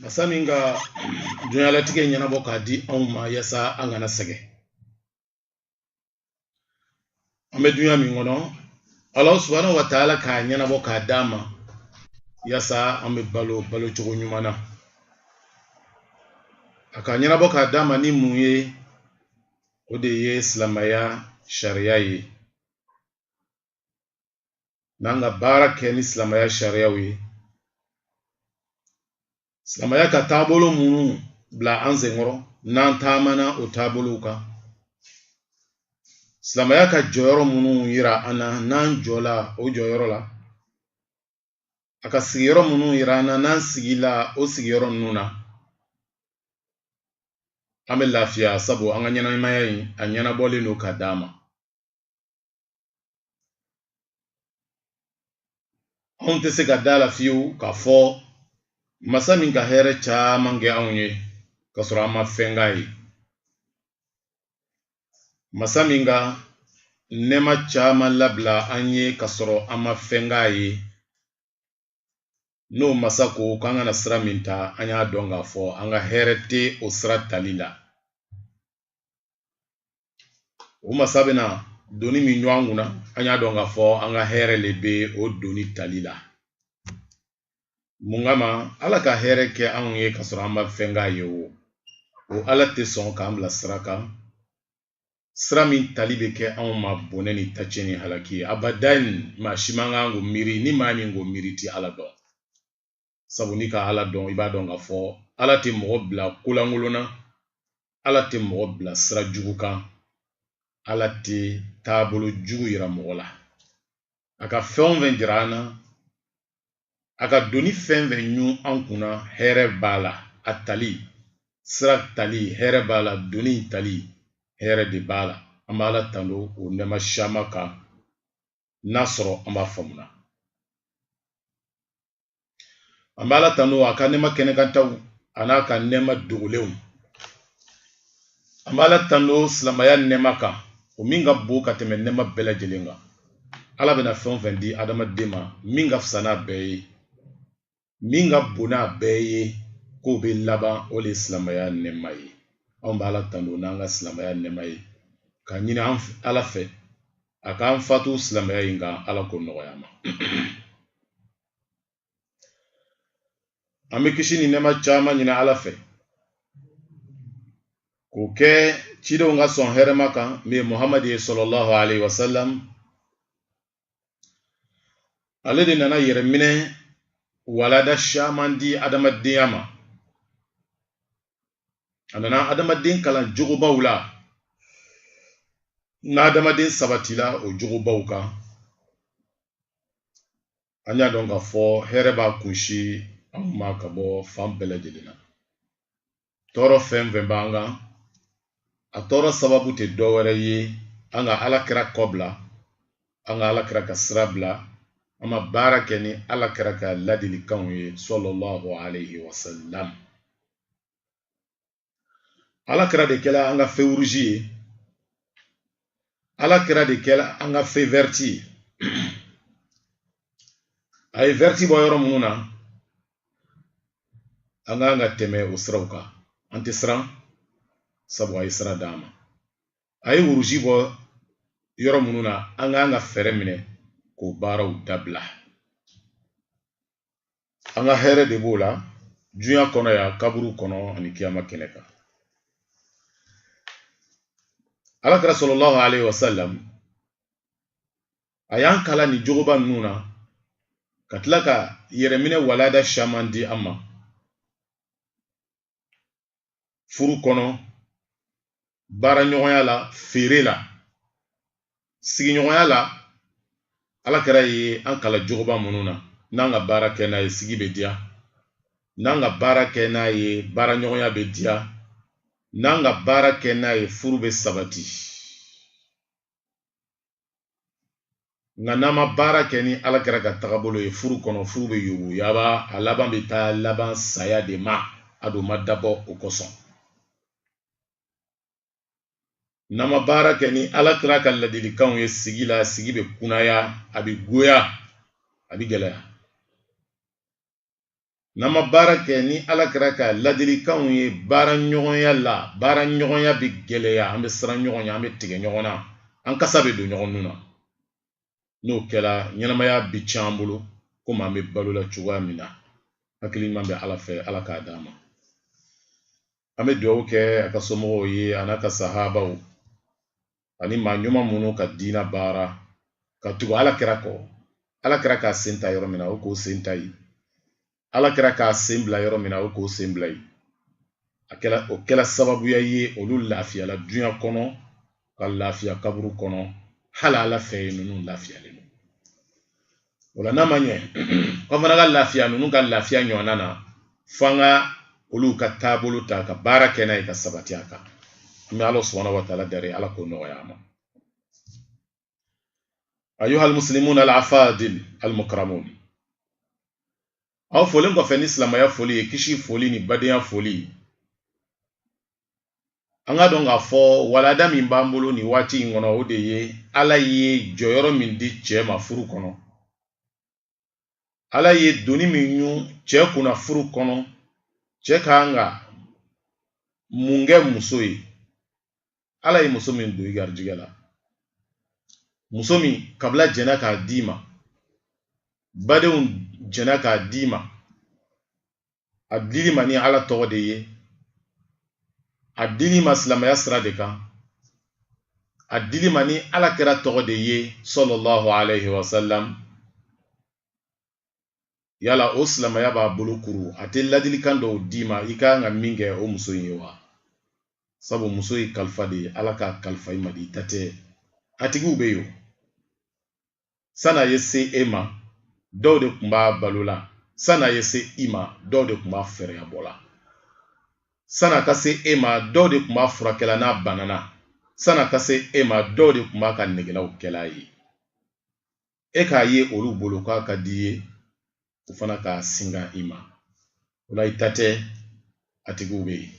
masa min ka dunyalatigɛ ɲɛnabɔ k'a di anw ma yasa an kana sɛgɛn an bɛ dunya min kɔnɔ ala subahana wa taala k'a ɲɛnabɔ k'a d'an ma yasa an bɛ balo balocogo ɲuman na a k'a ɲɛnabɔ k'a d'an ma ni mun ye o de ye silamaya sariya ye n'an ka baara kɛ ni silamaya sariyaw ye silamaya ka taabolo minnu bila an senkɔrɔ n'an taamana o taabolow kan silamaya ka jɔyɔrɔ minnu yira an na n'an jɔla o jɔyɔrɔ la a ka sigiyɔrɔ minnu yira an na n'an sigila o sigiyɔrɔ ninnu na an bɛ lafiya sabu an ka ɲɛnamaya in a ɲɛnabɔlen don k'a d'an ma anw tɛ se ka d'a la fiyewu k'a fɔ masa min ka hɛrɛ caman kɛ anw ye k'a sɔrɔ an ma fɛn k'a ye masa min ka nɛɛma caman labila an ye ka sɔrɔ an ma fɛn k'a ye n'o masa ko k'an kana sira min ta an y'a dɔn k'a fɔ an ka hɛrɛ tɛ o sira tali la o masa bɛna doni min ɲun an kunna an y'a dɔn k'a fɔ an ka hɛrɛ le bɛ o doni tali la mun kama ala ka hɛrɛ kɛ anw ye ka sɔrɔ an ma fɛn k'a ye o o ala tɛ sɔn k'an bila sira kan sira min tali bɛ kɛ anw ma bɔnɛ ni tacɛ ni halaki ye abadan maa si man kan k'o miiri ni maa min k'o miiri i tɛ ala dɔn sabu n'i ka ala dɔn i b'a dɔn k'a fɔ ala tɛ mɔgɔ bila kolankolon na ala tɛ mɔgɔ bila sira jugu kan ala tɛ taabolo jugu yira mɔgɔ la a ka fɛn o fɛn jira an na a ka doni fɛn fɛn ɲun an kunna hɛrɛ b'a la a tali sira tali hɛrɛ b'a la doni tali hɛrɛ de b'a la an b'ala tando o nɛma siyaman kan n'a sɔrɔ an b'a faamuna an bɛ ala tanu a ka nɛma kɛnɛkantaw an'a ka nɛma dogolenw an bɛ ala tanu silamaya nɛma kan o min ka bon ka tɛmɛ nɛma bɛɛ lajɛlen kan ala bɛna fɛn o fɛn di adamaden ma min ka fisa n'a bɛɛ ye min ka bon n'a bɛɛ ye ko bɛɛ laban o le silamaya nɛma ye anw bɛ ala tanu n'an ka silamaya nɛma ye k'a ɲini ala fɛ a k'an fatu silamɛya in kan ala k'o nɔgɔya an ma an bɛ kisi ni nɛma caman ɲini ala fɛ k'o kɛ cidenw ka sɔn hɛrɛma kan min ye muhamadu ye sallallahu alayhi wa sallam ale de nana yɛrɛminɛ walada caman di adamadenya ma a nana adamaden kalan jogobaw la n'adamaden sabatila o jogobaw kan an y'a dɔn k'a fɔ hɛrɛ b'a kunsin an ma ka bɔ fan bɛɛ lajɛlen na tɔɔrɔ fɛn fɛn b'an kan a tɔɔrɔ sababu tɛ dɔ wɛrɛ ye an ka ala kira kɔ bila an ka ala kira ka sira bila an ma baara kɛ ni ala kira ka ladilikanw ye sallallahu alayhi wa sallam ala kira de kɛla an ka fe wuruzi ye ala kira de kɛla an ka fe vɛriti ye a ye vɛriti bɔ yɔrɔ minnu na an k'an ka tɛmɛ o siraw kan an tɛ siran sabu a ye sira d'an ma a ye wuruzi bɔ yɔrɔ minnu na an k'an ka fɛɛrɛ minɛ k'o baaraw dabila an ka hɛrɛ de b'o la dunya kɔnɔ yan kaburu kɔnɔ ani kiyama kɛnɛ kan ala kira sallallahu alayhi wa sallam a y'an kalan nin jogoba ninnu na ka tila ka yɛrɛminɛ walada caman di an ma furu kɔnɔ baara ɲɔgɔnya la feere la sigiɲɔgɔnya la ala kira ye an kalan jogoba minnu na n'an ka baara kɛ n'a ye sigi bɛ diya n'an ka baara kɛ n'a ye baara ɲɔgɔnya bɛ diya n'an ka baara kɛ n'a ye furu bɛ sabati nka n'an ma baara kɛ ni ala kira ka tagabolo ye furu kɔnɔ furu bɛ yuguyaba a laban bɛ taa laban saya de ma a dun ma dabɔ o kosɔn n'an ma baara kɛ ni ala kira ka ladilikanw ye sigi la sigi bɛ kunaya a bɛ goya a bɛ gɛlɛya n'an ma baara kɛ ni ala kira ka ladilikanw ye baara ɲɔgɔnya la baara ɲɔgɔnya bɛ gɛlɛya an bɛ siran ɲɔgɔn ɲɛ an bɛ tigɛ ɲɔgɔn na an kasa bɛ don ɲɔgɔn nun na n'o kɛra ɲɛnamaya bɛ tiɲɛ an bolo komi an bɛ balo la cogoya min na hakili ɲuman bɛ ala fɛ ala k'a d'an ma an bɛ dugawu kɛ a ka somɔgɔw ye a n'a ka sahabaw ani maa ɲuman minnu ka diina baara ka tugu ala kira kɔ ala kira k'a sen ta yɔrɔ min na o k'o sen ta yen ala kira k'a sen bila yɔrɔ min na o k'o sen bila yen o kɛla sababuya ye olu lafiyala duɲa kɔnɔ ka lafiya kaburu kɔnɔ hali ala fɛ yen ninnu lafiyalen don o la n'a ma ɲɛ an fana ka lafiya ninnu ka lafiya ɲɔgɔnna na fo an ka olu ka taabolo ta ka baara kɛ n'a ye ka sabati a kan an bɛ ala subhanahu wa taala dali ala k'o nɔgɔya an ma ayuha almuslimun alafadil almukramun aw folen kɔfɛ ni silamaya foli ye kisi foli ni badenya foli an k'a dɔn k'a fɔ walada min b'an bolo nin waati in kɔnɔ o de ye ala ye jɔyɔrɔ min di cɛ ma furu kɔnɔ ala ye doni min ɲun cɛ kunna furu kɔnɔ cɛ ka kan ka mun kɛ muso ye ala ye muso min don i garijɛgɛ la muso min kabila jɛnna k'a d'i ma badenw jɛnna k'a d'i ma a dil'i ma ni ala tɔgɔ de ye a dil'i ma silamaya sira de kan a dil'i ma ni ala kira tɔgɔ de ye sallallahu alayhi wa sallam yala o silamaya b'a bolo kuru a tɛ ladilikan dɔw d'i ma i ka kan ka min kɛ o muso in ye wa sabu muso ye kalifa de ye ala k'a kalifa i ma de i ta tɛ a tigiw bɛ yen o Sani a ye se e ma dɔw de tun b'a balo la sani a ye se i ma dɔw de tun b'a fɛɛrɛya bɔ la sani a ka se e ma dɔw de tun b'a furakɛla n'a banana sani a ka se e ma dɔw de tun b'a ka negelaw kɛl'a ye e k'a ye olu bolo k'a ka d'i ye o fana k'a singa i ma o la i ta tɛ a tigiw bɛ yen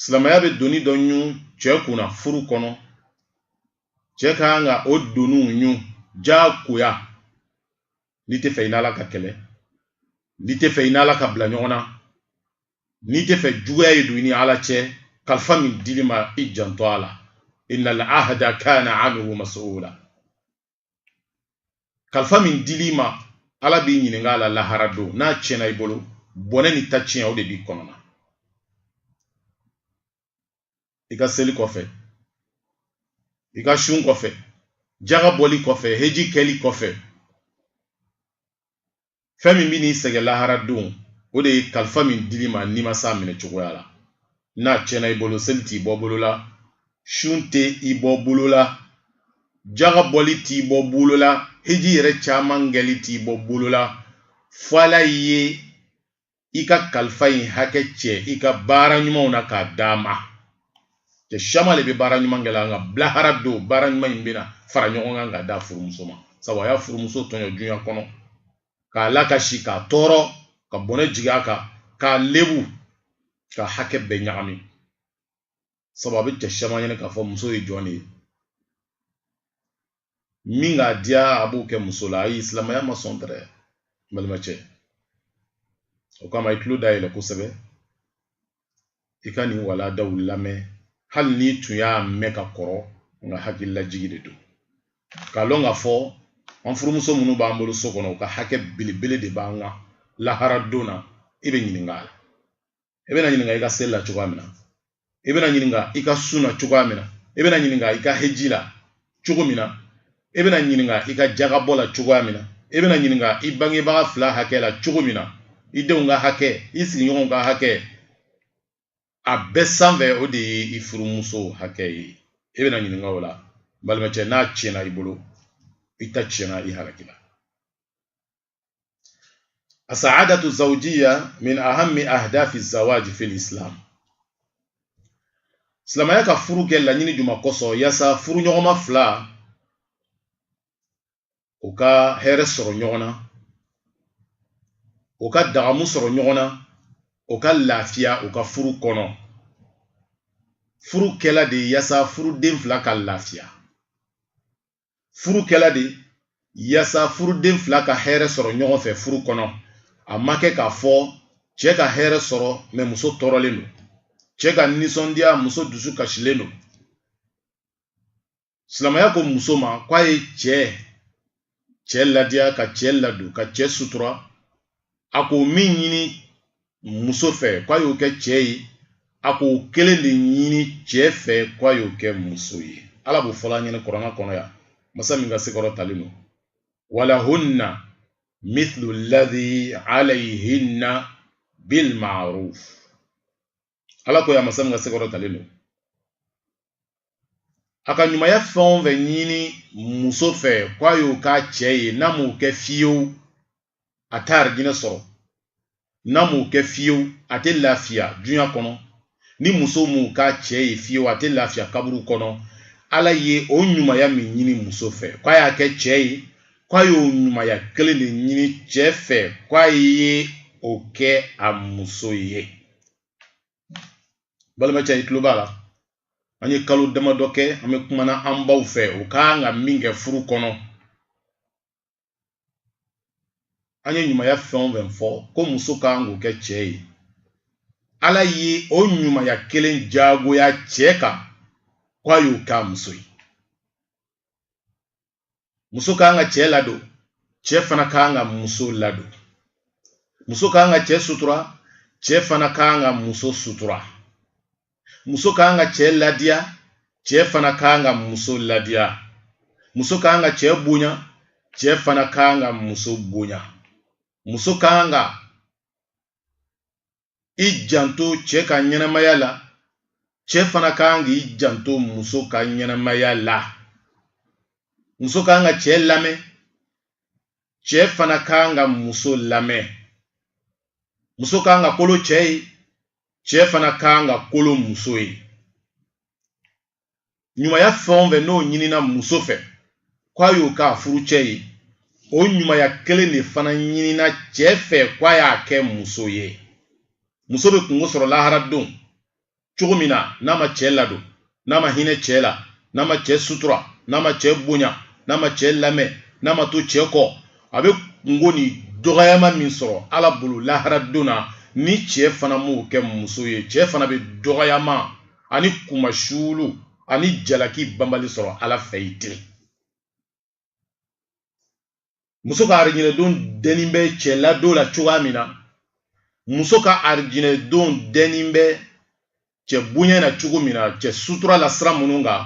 silamaya bɛ doni dɔ ɲun cɛ kunna furu kɔnɔ cɛ ka kan ka o doniw ɲun jagoya n'i tɛ fɛ i n'ala ka kɛlɛ n'i tɛ fɛ i n'ala ka bila ɲɔgɔn na n'i tɛ fɛ juguya ye don i ni ala cɛ kalifa min dil'i ma i janto a la innal ahda kana anhu mas'ula kalifa min dil'i ma ala b'i ɲininka a la lahara don n'a tiɲɛna i bolo bɔnɛ ni ta tiɲɛ o de b'i kɔnɔ na i ka seli kɔfɛ i ka sun kɔfɛ jaga bɔli kɔfɛ heji kɛli kɔfɛ fɛn min bɛ n'i sɛgɛn lahara don o de ye kalifa min dil'i ma n'i ma s'a minɛ cogoya la n'a tiɲɛna i bolo seli t'i bɔ bolo la sun tɛ i bɔ bolo la jaga bɔli t'i bɔ bolo la heji yɛrɛ caman kɛli t'i bɔ bolo la fo ala ye i ka kalifa in hakɛ cɛ i ka baara ɲumanw na k'a d'a ma cɛ siyaman le bɛ baara ɲuman kɛ la nka bi lahara don baara ɲuman in bɛna fara ɲɔgɔn kan k'a d'a furumuso ma sabu a y'a furumuso tɔɲɔ duɲa kɔnɔ k'a lakasi k'a tɔɔrɔ ka bɔnɛ jigin a kan k'a lebu k'a hakɛ bɛɛ ɲagami sabu a bɛ cɛ caman ɲɛ na k'a fɔ muso ye jɔn de ye min k'a diya a b'o kɛ muso la ayi silamɛya ma sɔn dɛrɛ n balimacɛ o kama i tulo dayɛlɛ kosɛbɛ i ka nin walandaw lamɛn hali n'i tun y'a mɛn ka kɔrɔ nka hakililajigi de don k'a lɔn k'a fɔ an furumuso minnu b'an bolo so kɔnɔ u ka hakɛ belebele de b'an kan lahara don na i bɛ ɲininka a la i bɛna ɲininka i ka seli la cogoya min na i bɛna ɲininka i ka sun na cogoya min na i bɛna ɲininka i ka heji la cogo min na i bɛna ɲininka i ka jagabɔ la cogoya min na i bɛna ɲininka i bangebaga fila hakɛ la cogo min na i denw ka hakɛ i sigiɲɔgɔnw ka hakɛ a bɛɛ sanfɛ o de ye i furumuso hakɛ ye i bɛna ɲininka o la balimacɛ n'a tiɲɛna i bolo i ta tiɲɛna i halakila asaadatu zawjiya min ahami ahdafi zawaji fil islam silamɛya ka furu kɛ laɲini juman kosɔn yaasa furuɲɔgɔnma fila u ka hɛrɛ sɔrɔ ɲɔgɔn na u ka dagamu sɔrɔ ɲɔgɔn na u ka lafiya u ka furu kɔnɔ furu kɛla de yaasa furuden fila ka lafiya furu kɛla de yasa furuden fila ka hɛrɛ sɔrɔ ɲɔgɔn fɛ furu kɔnɔ a ma kɛ k'a fɔ cɛ ka hɛrɛ sɔrɔ mais muso tɔɔrɔlen don cɛ ka nisɔndiya muso dusu kasilen don silamɛya ko muso ma k'a ye cɛ cɛ ladiya ka cɛ ladon ka cɛ sutura a k'o min ɲini muso fɛ k'a y'o kɛ cɛ ye a k'o kelen de ɲini cɛ fɛ k'a y'o kɛ muso ye ala b'o fɔl'an ɲɛ na kurana kɔnɔ yan masa min ka se kɔrɔtalen don walahunna mithlu ladhi alayhinna bil ma'ruf ala ko yan masa min ka se kɔrɔtalen don a ka ɲumanya fɛn o fɛn ɲini muso fɛ k'a y'o k'a cɛ ye n'a m'o kɛ fiyewu a t'arijinɛ sɔrɔ n'a m'o kɛ fiyewu a tɛ lafiya dunya kɔnɔ ni muso m'o k'a cɛ ye fiyewu a tɛ lafiya kaburu kɔnɔ ala ye o ɲumanya min ɲini muso fɛ k'a y'a kɛ cɛ ye k'a y'o ɲumanya kelen de ɲini cɛ fɛ k'a ye o kɛ a muso ye balimacɛ i tulo b'a la an ye kalo damadɔ kɛ an bɛ kumana an baw fɛ u ka kan ka min kɛ furu kɔnɔ an ye ɲumanya fɛn o fɛn fɔ ko muso ka kan k'o kɛ cɛ ye ala ye o ɲumanya kelen jagoya cɛ kan ko a y'o k'a muso ye muso ka kan ka cɛ ladon cɛ fana ka kan ka muso ladon muso ka kan ka cɛ sutura cɛ fana ka kan ka muso sutura muso ka kan ka cɛ ladiya cɛ fana ka kan ka muso ladiya muso ka kan ka cɛ bonya cɛ fana ka kan ka muso bonya muso ka kan ka i janto cɛ ka ɲɛnamaya la cɛ fana ka kan k'i janto muso ka ɲɛnamaya la muso ka kan ka cɛ lamɛn cɛ fana ka kan ka muso lamɛn muso ka kan ka kolo cɛ ye cɛ fana ka kan ka kolo muso ye ɲumanya fɛn o fɛn n'o ɲinina muso fɛ k'a y'o k'a furucɛ ye o ɲumanya kelen de fana ɲinina cɛ fɛ k'a y'a kɛ muso ye muso bɛ kungo sɔrɔ lahara don cogo min na n'a ma cɛ ladon n'a ma hinɛ cɛ la n'a ma cɛ sutura n'a ma cɛ bonya n'a ma cɛ lamɛn n'a ma to cɛ kɔ a bɛ kungo ni dɔgɔyama min sɔrɔ ala bolo lahara don na ni cɛ fana m'o kɛ muso ye cɛ fana bɛ dɔgɔyama ani kunmasuulu ani jalaki banbali sɔrɔ ala fɛ yen ten muso ka arijinɛdon dɛnin bɛ cɛ ladon la cogoya min na muso ka arijinɛdon dɛnin bɛ cɛ bonya na cogo min na cɛ sutura la sira minnu kan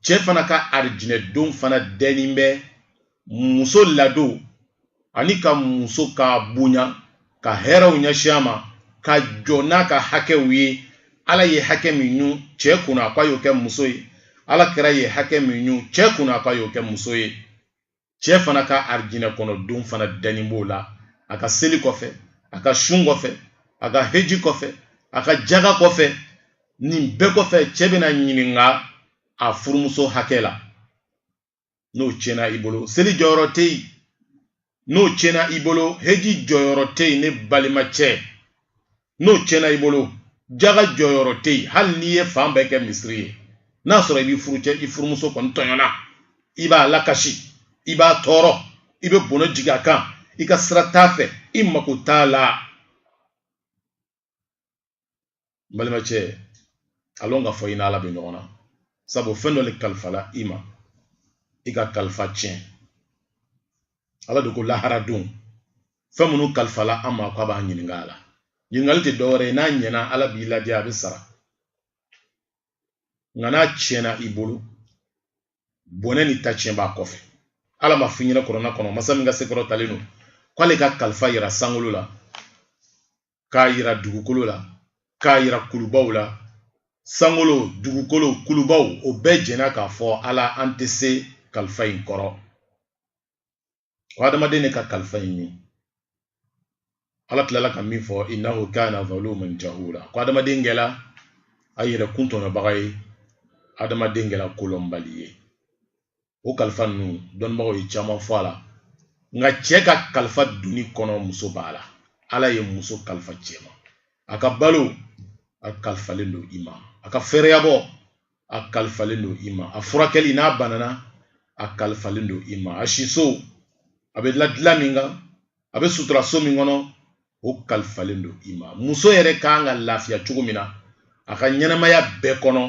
cɛ fana ka arijinɛdon fana dɛnin bɛ muso ladon ani ka muso ka bonya ka hɛrɛw ɲɛsin a ma ka jɔ n'a ka hakɛw ye ala ye hakɛ min ɲun cɛ kunna k'a y'o kɛ muso ye ala kira ye hakɛ min ɲun cɛ kunna k'a y'o kɛ muso ye cɛ fana ka arijinɛ kɔnɔ don fana dɛnin b'o la a ka seli kɔfɛ a ka sun kɔfɛ a ka heji kɔfɛ a ka jaga kɔfɛ nin bɛɛ kɔfɛ cɛ bɛna ɲininka a furumuso hakɛ la n'o tiɲɛna i bolo seli jɔyɔrɔ tɛ yen n'o tiɲɛna i bolo heji jɔyɔrɔ tɛ yen ne balimacɛ n'o tiɲɛna i bolo jaga jɔyɔrɔ tɛ yen hali n'i ye fan bɛɛ kɛ misiri ye n'a sɔrɔ i b'i furucɛ i furumuso kɔni tɔɲɔna i b'a lakasi i b'a tɔɔrɔ i bɛ bɔnɔ jigin a kan i ka sira t'a fɛ i mako t'a la n balimacɛ a lɔn k'a fɔ i n'ala bɛ ɲɔgɔn na sabu fɛn dɔ le kalifala i ma i ka kalifa tiɲɛ ala de ko lahara don fɛn minnu kalifala an ma k'a b'a ɲininka a la ɲininkali tɛ dɔwɛrɛ ye n'a ɲɛna ala b'i ladiya a b'i sara nka n'a tiɲɛna i bolo bɔnɛ ni ta tiɲɛ b'a kɔfɛ ala m'a f'i ɲɛna kuranɛ kɔnɔ masa min ka se kɔrɔtalen don k'ale ka kalifa yira sankolo la k'a yira dugukolo la k'a yira kulubaw la sankolo dugukolo kulubaw o bɛɛ jɛnna k'a fɔ ala an tɛ se kalifa in kɔrɔ ko adamaden de ka kalifa in ɲun ala tilala ka min fɔ innahu kana zaluman jahula ko adamaden kɛla a yɛrɛ kun tɔɲɔbaga ye adamaden kɛla kolɔnbali ye o kalifa ninnu dɔnnibagaw ye caman fɔ a la nka cɛ ka kalifa du nin kɔnɔ muso b'a la ala ye muso kalifa cɛ ma a ka balo a kalifalen don i ma a ka fɛrɛyabɔ a kalifalen don i ma a furakɛli n'a banana a kalifalen don i ma a siso a bɛ la dilan min kan a bɛ sutura so min kɔnɔ o kalifalen don i ma muso yɛrɛ kan ka lafiya cogo min na a ka ɲɛnamaya bɛɛ kɔnɔ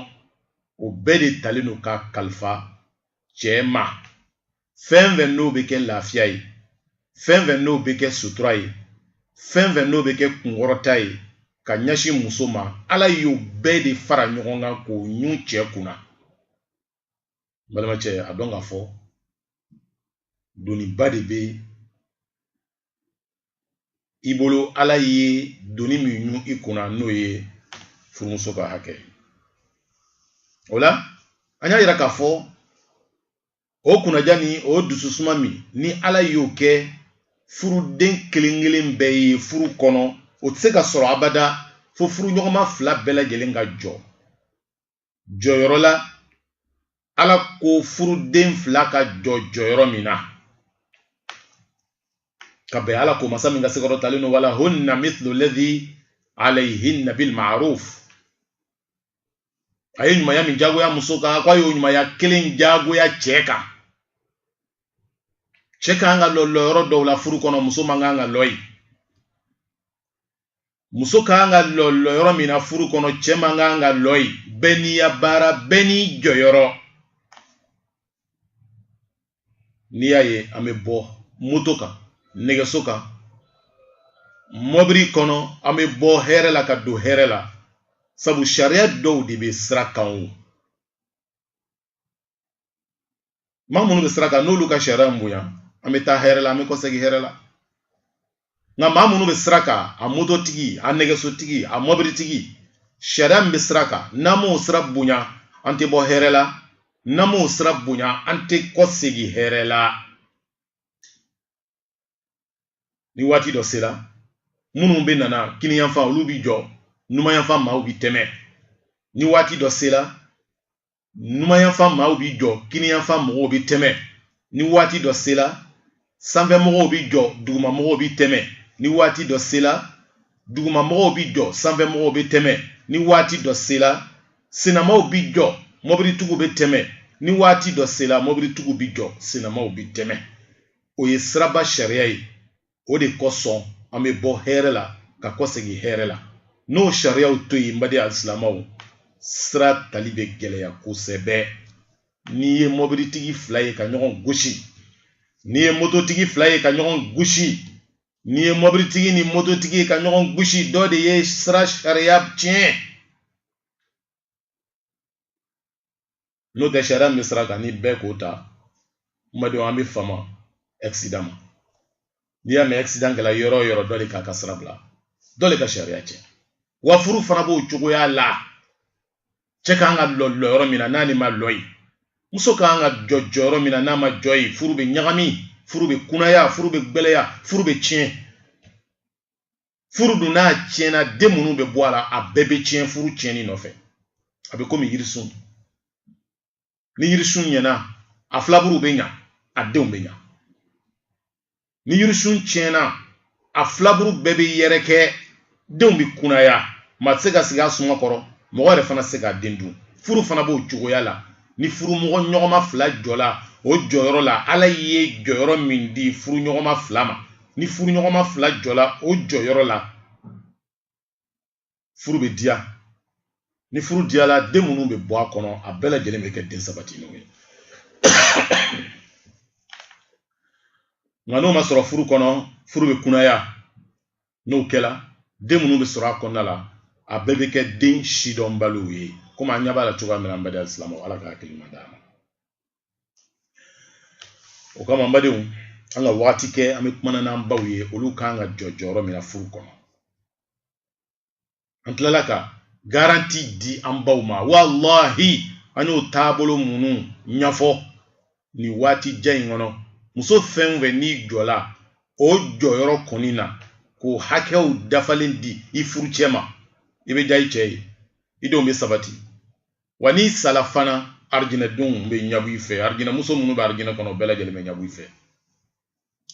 o bɛɛ de talen don ka kalifa cɛ ma fɛn fɛn n'o bɛ kɛ lafiya ye fɛn fɛn n'o bɛ kɛ sutura ye fɛn fɛn n'o bɛ kɛ kunkɔrɔta ye ka ɲɛsin muso ma ala y'o bɛɛ de fara ɲɔgɔn kan k'o ɲun cɛ kunna balimacɛ a dɔn k'a fɔ doniba de bɛ i bolo ala ye doni min ɲun i kunna n'o ye furumuso ka hakɛ o la an y'a yira k'a fɔ o kunnaja ni o dususuma min ni ala y'o kɛ furuden kelen kelen bɛɛ ye furu kɔnɔ o tɛ se ka sɔrɔ abada fo furuɲɔgɔnma fila bɛɛ lajɛlen ka jɔ jɔyɔrɔ la ala ko furuden fila ka jɔ jɔyɔrɔ min na ka bɛn ala ko masa min ka se kɔrɔtalen don wala hunna mithlu ladhi alayhinna bil ma'ruf a ye ɲumanya min jagoya muso kan ko a y'o ɲumanya kelen jagoya cɛ kan cɛ kan ka lɔ lɔyɔrɔ dɔw la furu kɔnɔ muso man kan ka lɔ yen muso kan ka lɔ lɔyɔrɔ min na furu kɔnɔ cɛ man kan ka lɔ yen bɛɛ n'i ya baara bɛɛ n'i jɔyɔrɔ n'i y'a ye an bɛ bɔ moto kan nɛgɛso kan mɔbili kɔnɔ an bɛ bɔ hɛrɛ la ka don hɛrɛ la sabu sariya dɔw de bɛ sira kan o maa minnu bɛ sira kan n'olu ka sariya bonya an bɛ taa hɛrɛ la an bɛ kɔsegi hɛrɛ la nka maa minnu bɛ sira kan a mototigi a nɛgɛsotigi a mɔbilitigi sariya min bɛ sira kan n'an m'o sira bonya an tɛ bɔ hɛrɛ la n'an m'o sira bonya an tɛ kɔsegi hɛrɛ la ni waati dɔ sera minnu bɛ nana kiniyanfan olu bi jɔ numanyanfan maaw bi tɛmɛ ni waati dɔ sera numanyanfan maaw bi jɔ kiniyanfan mɔgɔw bi tɛmɛ ni waati dɔ sera sanfɛ mɔgɔw bi jɔ duguma mɔgɔw bi tɛmɛ ni waati dɔ sera duguma mɔgɔw bi jɔ sanfɛ mɔgɔw bi tɛmɛ ni waati dɔ sera senamaw bi jɔ mɔbilitigiw bɛ tɛmɛ ni waati dɔ sera mɔbilitigiw bi jɔ senamaw bi tɛmɛ o ye siraba sariya ye o de kosɔn an bɛ bɔ hɛrɛ la ka kɔsegin hɛrɛ la n'o sariyaw to yen n baden alisilamɛw sira tali bɛ gɛlɛya kosɛbɛ n'i ye mɔbilitigi fila ye ka ɲɔgɔn gosi n'i ye mototigi fila ye ka ɲɔgɔn gosi n'i ye mɔbilitigi ni mototigi ye ka ɲɔgɔn gosi dɔ de ye sira sariya tiɲɛ n'o tɛ sariya min bɛ sira kan ni bɛɛ k'o ta n badenw an bɛ fama accident ma n'i y'a mɛn accident kɛla yɔrɔ o yɔrɔ dɔ de k'a ka sira bila dɔ de ka sariya tiɲɛ wa furu fana b'o cogoya la cɛ kan ka lɔ lɔyɔrɔ min na n'ale ma lɔ yen muso kan ka jɔ jɔyɔrɔ min na n'a ma jɔ yen furu bɛ ɲagami furu bɛ kunaya furu bɛ gbɛlɛya furu bɛ tiɲɛ furu dun n'a tiɲɛna den minnu bɛ bɔ a la a bɛɛ bɛ tiɲɛ furu tiɲɛni nɔfɛ a bɛ komi yirisun ni yirisun ɲɛna a filaburu bɛ ɲa a denw bɛ ɲa ni yirisun tiɲɛna a filaburu bɛɛ bɛ yɛrɛkɛ denw bɛ kunaya maa tɛ se ka sigi a suma kɔrɔ mɔgɔ yɛrɛ fana tɛ se k'a den dun furu fana b'o cogoya la ni furumɔgɔ ɲɔgɔnma fila jɔla o jɔyɔrɔ la ala ye jɔyɔrɔ min di furu ɲɔgɔnma fila ma ni furu ɲɔgɔnma fila jɔla o jɔyɔrɔ la furu bɛ diya ni furu diyala den minnu bɛ bɔ a kɔnɔ a bɛɛ lajɛlen bɛ kɛ den sabatilenw ye nka n'o ma sɔrɔ furu kɔnɔ furu bɛ kunaya n'o kɛla den minnu bɛ sɔrɔ a kɔnɔna la a bɛɛ bɛ kɛ den sidɔnbaliw ye komi an ɲɛ b'a la cogoya min na an baden alisilamɛw ala ka hakili ɲuman d'an ma o kama an badenw an ka waati kɛ an bɛ kumana n'an baw ye olu kan ka jɔ jɔyɔrɔ min na furu kɔnɔ an tilala ka garanti di an baw ma walahi an y'o taabolo minnu ɲɛfɔ nin waati jan in kɔnɔ muso fɛn o fɛn n'i jɔla o jɔyɔrɔ kɔni na k'o hakɛw dafalen di i furucɛ ma i bɛ diya i cɛ ye i denw bɛ sabati wa n'i sala fana arijinɛdenw bɛ ɲabɔ i fɛ arijinɛmuso minnu bɛ arijinɛ kɔnɔ bɛɛ lajɛlen bɛ ɲabɔ i fɛ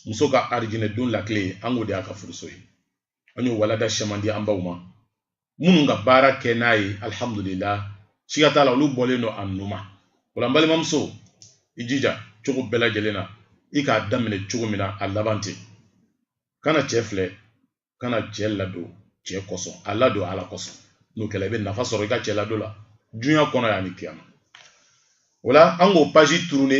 muso ka arijinɛdon lakile an k'o de y'a ka furuso ye an y'o walanda caman di an baw ma minnu ka baara kɛ n'a ye alihamudulila siga t'a la olu bɔlen don a nu ma o la n balimamuso i jija cogo bɛɛ lajɛlen na i k'a daminɛ cogo min na a laban ten kana cɛ filɛ kana cɛ ladon cɛ kosɔn a ladon ala kosɔn n'o kɛla i bɛ nafa sɔrɔ i ka cɛ ladon la dunya kɔnɔ yan ni kiyama o la an k'o paji turune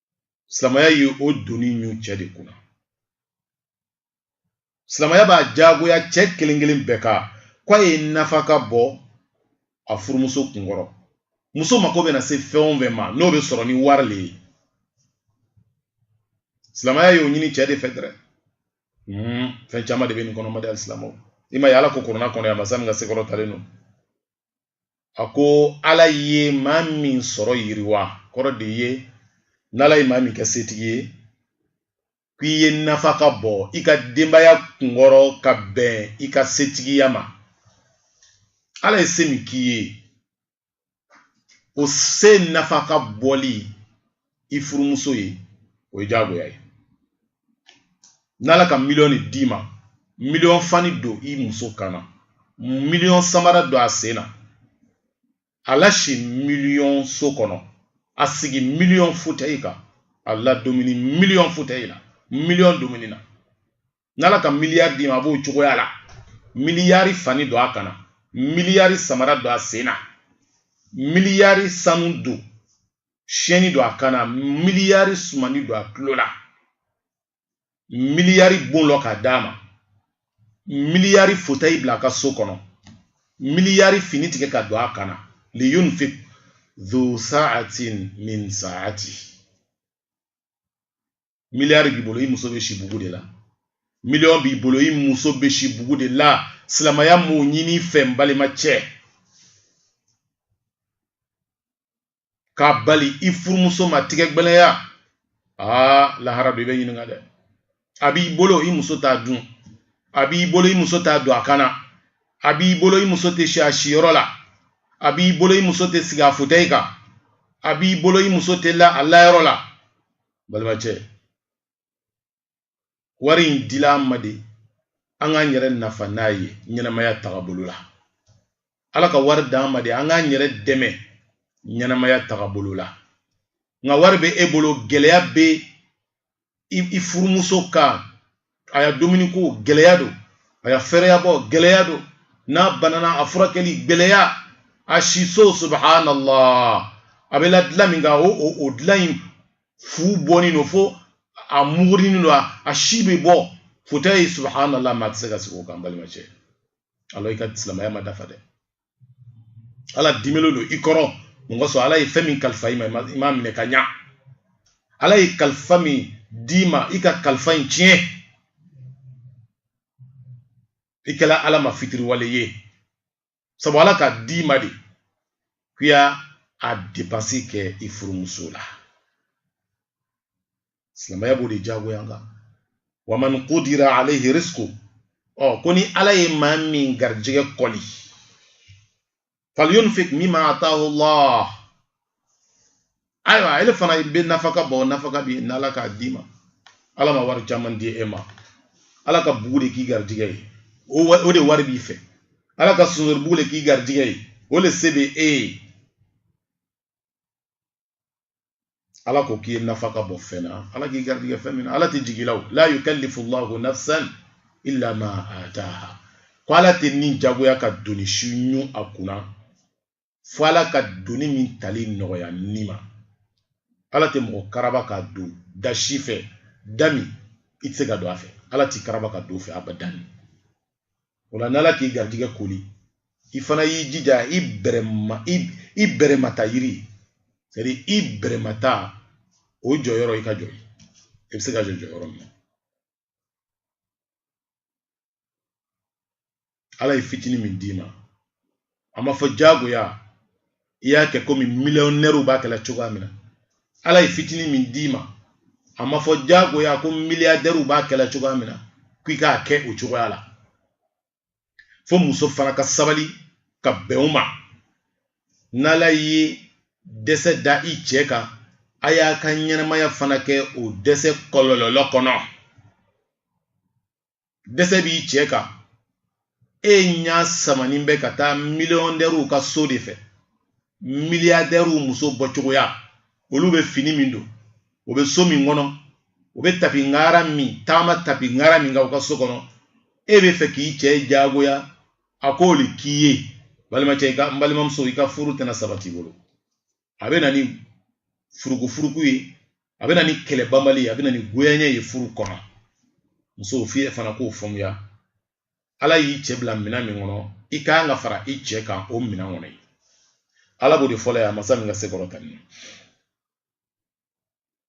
silamaya ye o doni ɲu cɛ de kunna silamaya b'a jagoya cɛ kelen kelen bɛɛ ka k'a ye nafaka bɔ a furumuso kunkɔrɔ muso mako bɛna se fɛn o fɛn ma n'o bɛ sɔrɔ ni wari le ye silamaya y'o ɲini cɛ de fɛ dɛrɛ hmm, fɛn caman de bɛ nin kɔnɔ n baden alisilamɛw i ma ye ala ko kurana kɔnɔ yan masa min ka se kɔrɔtalen don a ko ala ye maa min sɔrɔ yiriwa kɔrɔ de ye n'ala ye maa min kɛ setigi ye k'i ye nafaka bɔ i ka denbaya kunkɔrɔ ka bɛn i ka setigiya ma ala ye se min k'i ye o se nafaka bɔli i furumuso ye o ye jagoya ye n'ala ka miliyɔn d'i ma miliyɔn fani don i muso kan na miliyɔn samara don a sen na a lasi miliyɔn so kɔnɔ a sigi miliyɔn futayi kan a ladomini miliyɔn futayi la miliyɔn domini na n'ala ka miliyari d'i ma a b'o cogoya la miliyari fani don a kan na miliyari samara don a sen na miliyari sanu don siyɛni don a kan na miliyari sumani don a tulo la miliyari bon lɔ ka d'a ma miliyari fotayi bila a ka so kɔnɔ miliyari fini tigɛ ka don a kan na liyunfik dhu sa'atin min sa'ati miliyari b'i bolo i muso bɛ si bugu de la miliyɔn b'i bolo i muso bɛ si bugu de la silamaya m'o ɲin'i fɛ n balima cɛ k'a bali i furumuso ma tigɛ gbɛlɛya aa lahara don i bɛ ɲininka dɛ a b'i bolo i muso t'a dun a b'i bolo i muso t'a don a kan na a b'i bolo i muso tɛ si a siyɔrɔ la a b'i bolo i muso tɛ sigi a fotɛyi kan a b'i bolo i muso tɛ la a layɔrɔ la balimacɛ wari in dila an ma de an k'an yɛrɛ nafa n'a ye ɲɛnamaya tagabolo la ala ka wari d'an ma de an k'an yɛrɛ dɛmɛ ɲɛnamaya tagabolo la nka wari bɛ e bolo gɛlɛya bɛ i furumuso kan a ya dumuni ko gɛlɛya don a ya fɛrɛyabɔ gɛlɛya don n'a banana a furakɛli gɛlɛya a siso subhanallah a bɛ la dilan min kan o o dilan in fu bɔnen don fo a mugurinin don a si bɛ bɔ fotɛyi subhanallah maa tɛ se ka sigi o kan balimacɛ alors i ka silamɛya ma dafa dɛ ala dimilen don i kɔrɔ mun kosɔn ala ye fɛn min kalifa i ma i m'a minɛ ka ɲa ala ye kalifa min d'i ma i ka kalifa in tiɲɛ i kɛla ala ma fitiriwale ye sabu ala ka d'i ma de k'i y'a a depansi kɛ i furumuso la silamɛya b'o de jagoya kan wa man qudira alayhi rizquhu ko ni ala ye maa min garijɛgɛ koli falyunfiq mimma atahu llah ayiwa ele fana bɛ nafaka bɔ nafaka bi n'ala k'a d'i ma ala ma wari caman di e ma ala ka bugu de k'i garijɛgɛ ye o de wari b'i fɛ ala ka sunzori bugu de k'i garijɛgɛ ye o de se bɛ e ye ala ko k'i ye nafaka bɔ fɛn na ala k'i garijɛgɛ fɛn min na ala tɛ jigin i la o la yukallifu llahu nafsan illa ma ataha ko ala tɛ ni jagoya ka doni si ɲun a kunna fo ala ka doni min tali nɔgɔya ni ma ala tɛ mɔgɔ karaba ka don da si fɛ da min i tɛ se ka don a fɛ ala t'i karaba ka don fɛ abadan o la n'ala k'i garijɛgɛ koli i fana y'i jija i bɛrɛmata yiri sɛtadiri i bɛrɛmata o jɔyɔrɔ i ka jɔ i bɛ se ka jɔ jɔyɔrɔ min na ala ye fitinin min d'i ma a ma fɔ jagoya i y'a kɛ komi miliyɔnɛriw b'a kɛla cogoya min na ala ye fitinin min d'i ma a ma fɔ jagoya ko miliyadɛriw b'a kɛla cogoya min na k'i k'a kɛ o cogoya la fo muso fana ka sabali ka bɛn o ma n'ala ye dɛsɛ da i cɛ kan a y'a ka ɲɛnamaya fana kɛ o dɛsɛ kɔlɔlɔ kɔnɔ dɛsɛ b'i cɛ kan e ɲa samanin bɛ ka taa miliyɔndɛriw ka so de fɛ miliyadɛriw muso bɔcogoya olu bɛ fini min don o bɛ so min kɔnɔ o bɛ tapi ŋara min taama tapi ŋara min kan u ka so kɔnɔ e b'a fɛ k'i cɛ jagoya a k'o de k'i ye balimacɛ i ka n balimamuso i ka furu tɛna sabati bolo a bɛ na ni furukufuruku ye a bɛ na ni kɛlɛbanbali ye a bɛ na ni goyanya ye furu kɔnɔ muso f'i fana k'o faamuya ala y'i cɛ bila minɛn min kɔnɔ i ka kan ka fara i cɛ kan o minɛn kɔnɔ ye ala b'o de fɔ la yan masa min ka se kɔrɔtanin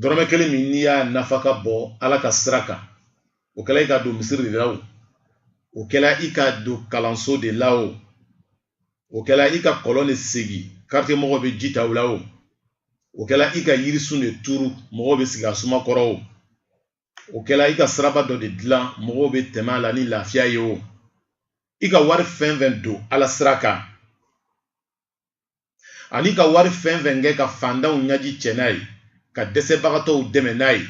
dɔrɔmɛ kelen min n'i y'a nafaka bɔ ala ka sira kan o kɛla i k'a don misiri de la o o kɛla i k'a don kalanso de la o o kɛla i ka kɔlɔn de segi karitiye mɔgɔw bɛ ji ta o la o o kɛla i ka yirisun de turu mɔgɔw bɛ sigi a suma kɔrɔ o o kɛla i ka siraba dɔ de dilan mɔgɔw bɛ tɛmɛ a la ni lafiya ye o i ka wari fɛn fɛn don ala sira kan an'i ka wari fɛn fɛn kɛ ka fantanw ɲaji cɛ n'a ye ka dɛsɛbagatɔw dɛmɛ n'a ye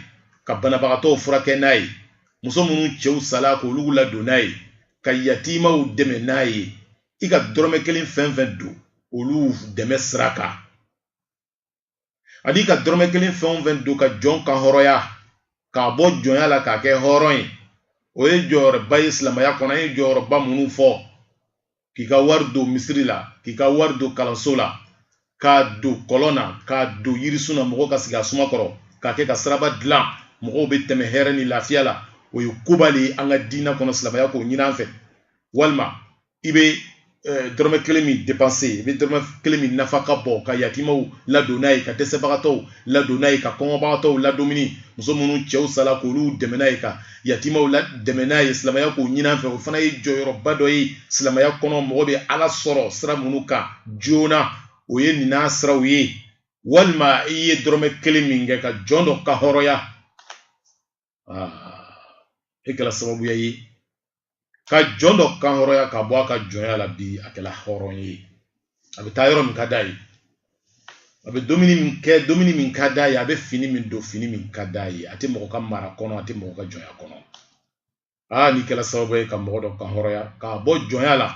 ka banabagatɔw furakɛ n'a ye muso minnu cɛw sala k'olu ladon n'a ye ka yatimaw dɛmɛ n'a ye i ka dɔrɔmɛ kelen fɛn fɛn don olu dɛmɛ sira kan an'i ka dɔrɔmɛ kelen fɛn o fɛn don ka jɔn kan hɔrɔnya k'a bɔ jɔnya la k'a kɛ hɔrɔn ye o ye jɔyɔrɔba ye silamɛya kɔnɔ an ye jɔyɔrɔba minnu fɔ k'i ka wari don misiri la k'i ka wari don kalanso la k'a don kɔlɔn na k'a don yirisun na mɔgɔw ka sigi a suma kɔrɔ k'a kɛ ka siraba dilan mɔgɔw bɛ tɛmɛ hɛrɛ ni lafiya la o ye koba de ye an ka diinɛ kɔnɔ silamɛya k'o ɲin'an fɛ walima i bɛ eh, dɔrɔmɛ kelen min depanse i bɛ dɔrɔmɛ kelen min nafaka bɔ ka yatimaw ladon n'a ye ka dɛsɛbagatɔw ladon n'a ye ka kɔngɔbagatɔw ladumuni muso minnu cɛw sala k'olu dɛmɛ n'a ye ka yatimaw ladɛmɛ n'a ye silamɛya k'o ɲin'an fɛ o fana ye jɔyɔrɔba dɔ ye silamɛya kɔnɔ mɔgɔ bɛ ala sɔrɔ sira minnu kan joona o ye nin nasiraw ye walima i ye dɔrɔmɛ kelen min kɛ ka jɔn dɔ kan hɔrɔnya e kɛla sababuya ye ka jɔn dɔ kan hɔrɔnya k'a bɔ a ka jɔnya la bi a kɛla hɔrɔn ye a bɛ taa yɔrɔ min ka d'a ye a bɛ dumuni min kɛ dumuni min ka d'a ye a bɛ fini min don fini min ka d'a ye a tɛ mɔgɔ ka mara kɔnɔ a tɛ mɔgɔ ka jɔnya kɔnɔ aa n'i kɛla sababu ye ka mɔgɔ dɔ kan hɔrɔnya k'a bɔ jɔnya la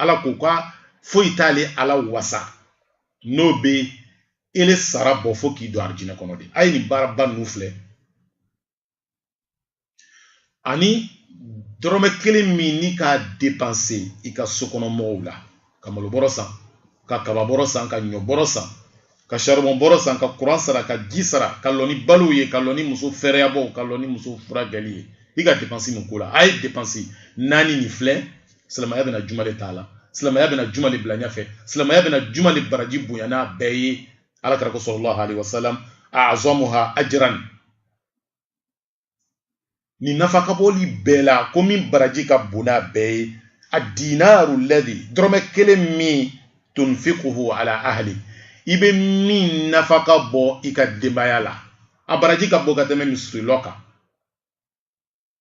ala ko ko foyi t'ale ala wasa n'o bɛ ele sara bɔ fo k'i don arijinɛ kɔnɔ de a ye nin baaraba ninnu filɛ ani dɔrɔmɛ kelen min n'i k'a depanse i ka sokɔnɔ mɔgɔw la ka malobɔrɔ san ka kababɔrɔ san ka ɲɔbɔrɔ san ka saribɔnbɔrɔ san ka kuran sara ka ji sara ka lɔ ni balow ye ka lɔ ni muso fɛrɛyabɔw ka lɔ ni muso furakɛli ye i ka depansi min k'o la a ye depansi naani nin filɛ silamɛya bɛna juman de t'a la silamɛya bɛna juman de bila ɲɛfɛ silamɛya bɛna juman de baraji bonya n'a bɛɛ ye ala kira ko salalahu alaihi wasalam azamuha ajran nin nafaka bɔli bɛɛ la ko min baraji ka bon n'a bɛɛ ye a dinaru ladi dɔrɔmɛ kelen min tunfikuhu ala ahli i bɛ min nafaka bɔ i ka denbaya la a baraji ka bon ka tɛmɛ misiri lɔ kan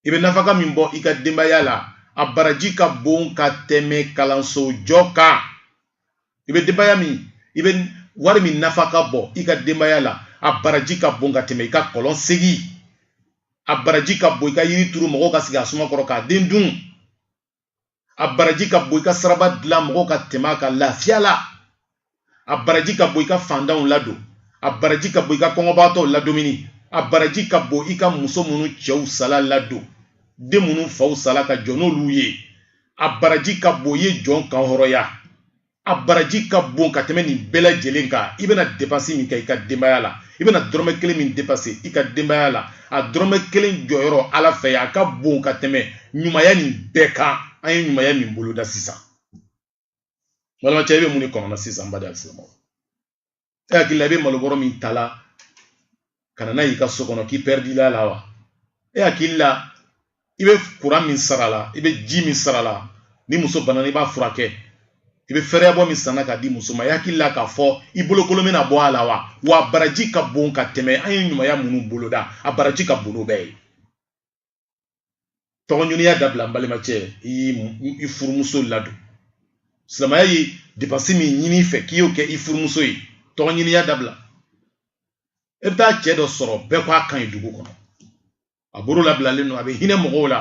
i bɛ nafaka min bɔ i ka denbaya la a baraji ka bon ka tɛmɛ kalanso jɔ kan i bɛ denbaya min i bɛ wari min nafaka bɔ i ka denbaya la a baraji ka bon ka tɛmɛ i ka kɔlɔn segi a baraji ka bon i ka yiri turu mɔgɔw ka sigi a suma kɔrɔ k'a den dun a baraji ka bon i ka saraba dilan mɔgɔw ka tɛmɛ a kan lafiya la a baraji ka bon i ka fantanw ladon a baraji ka bon i ka kɔngɔbaatɔw ladomuni a baraji ka bon i ka muso minnu cɛw sala ladon den minnu faw sala ka jɔ n'olu ye a baraji ka bon i ye jɔn kanhɔrɔnya a baraji ka bon ka tɛmɛ nin bɛɛ lajɛlen kan i bɛna depansi min kɛ i ka denbaya la i bɛna dɔrɔmɛ kelen min depanse i ka denbaya la a dɔrɔmɛ kelen jɔyɔrɔ ala fɛ a ka bon ka tɛmɛ ɲumaya nin bɛɛ kan an ye ɲumaya min boloda sisan balimacɛ i bɛ mun de kɔnɔna sisan n baden alisilamɛw e hakili la i bɛ malobɔrɔ min ta la ka na n'a y'i ka so kɔnɔ k'i pɛridila a la wa e hakili la i bɛ kuran min sara la i bɛ ji min sara la ni muso banana i b'a furakɛ i bɛ fɛrɛyabɔ min san na k'a di muso ma i hakili la k'a fɔ i bolokolo bɛna bɔ a la wa wa a baraji ka bon ka tɛmɛ an ye ɲumanya minnu boloda a baraji ka bon n'o bɛɛ ye tɔgɔɲiniya dabila n balimacɛ i furumuso ladon silamɛya ye depansi min ɲini i fɛ k'i y'o kɛ i furumuso ye tɔgɔɲiniya dabila e bɛ taa cɛ dɔ sɔrɔ bɛɛ k'a ka ɲi dugu kɔnɔ a bolo labilalen don a bɛ hinɛ mɔgɔw la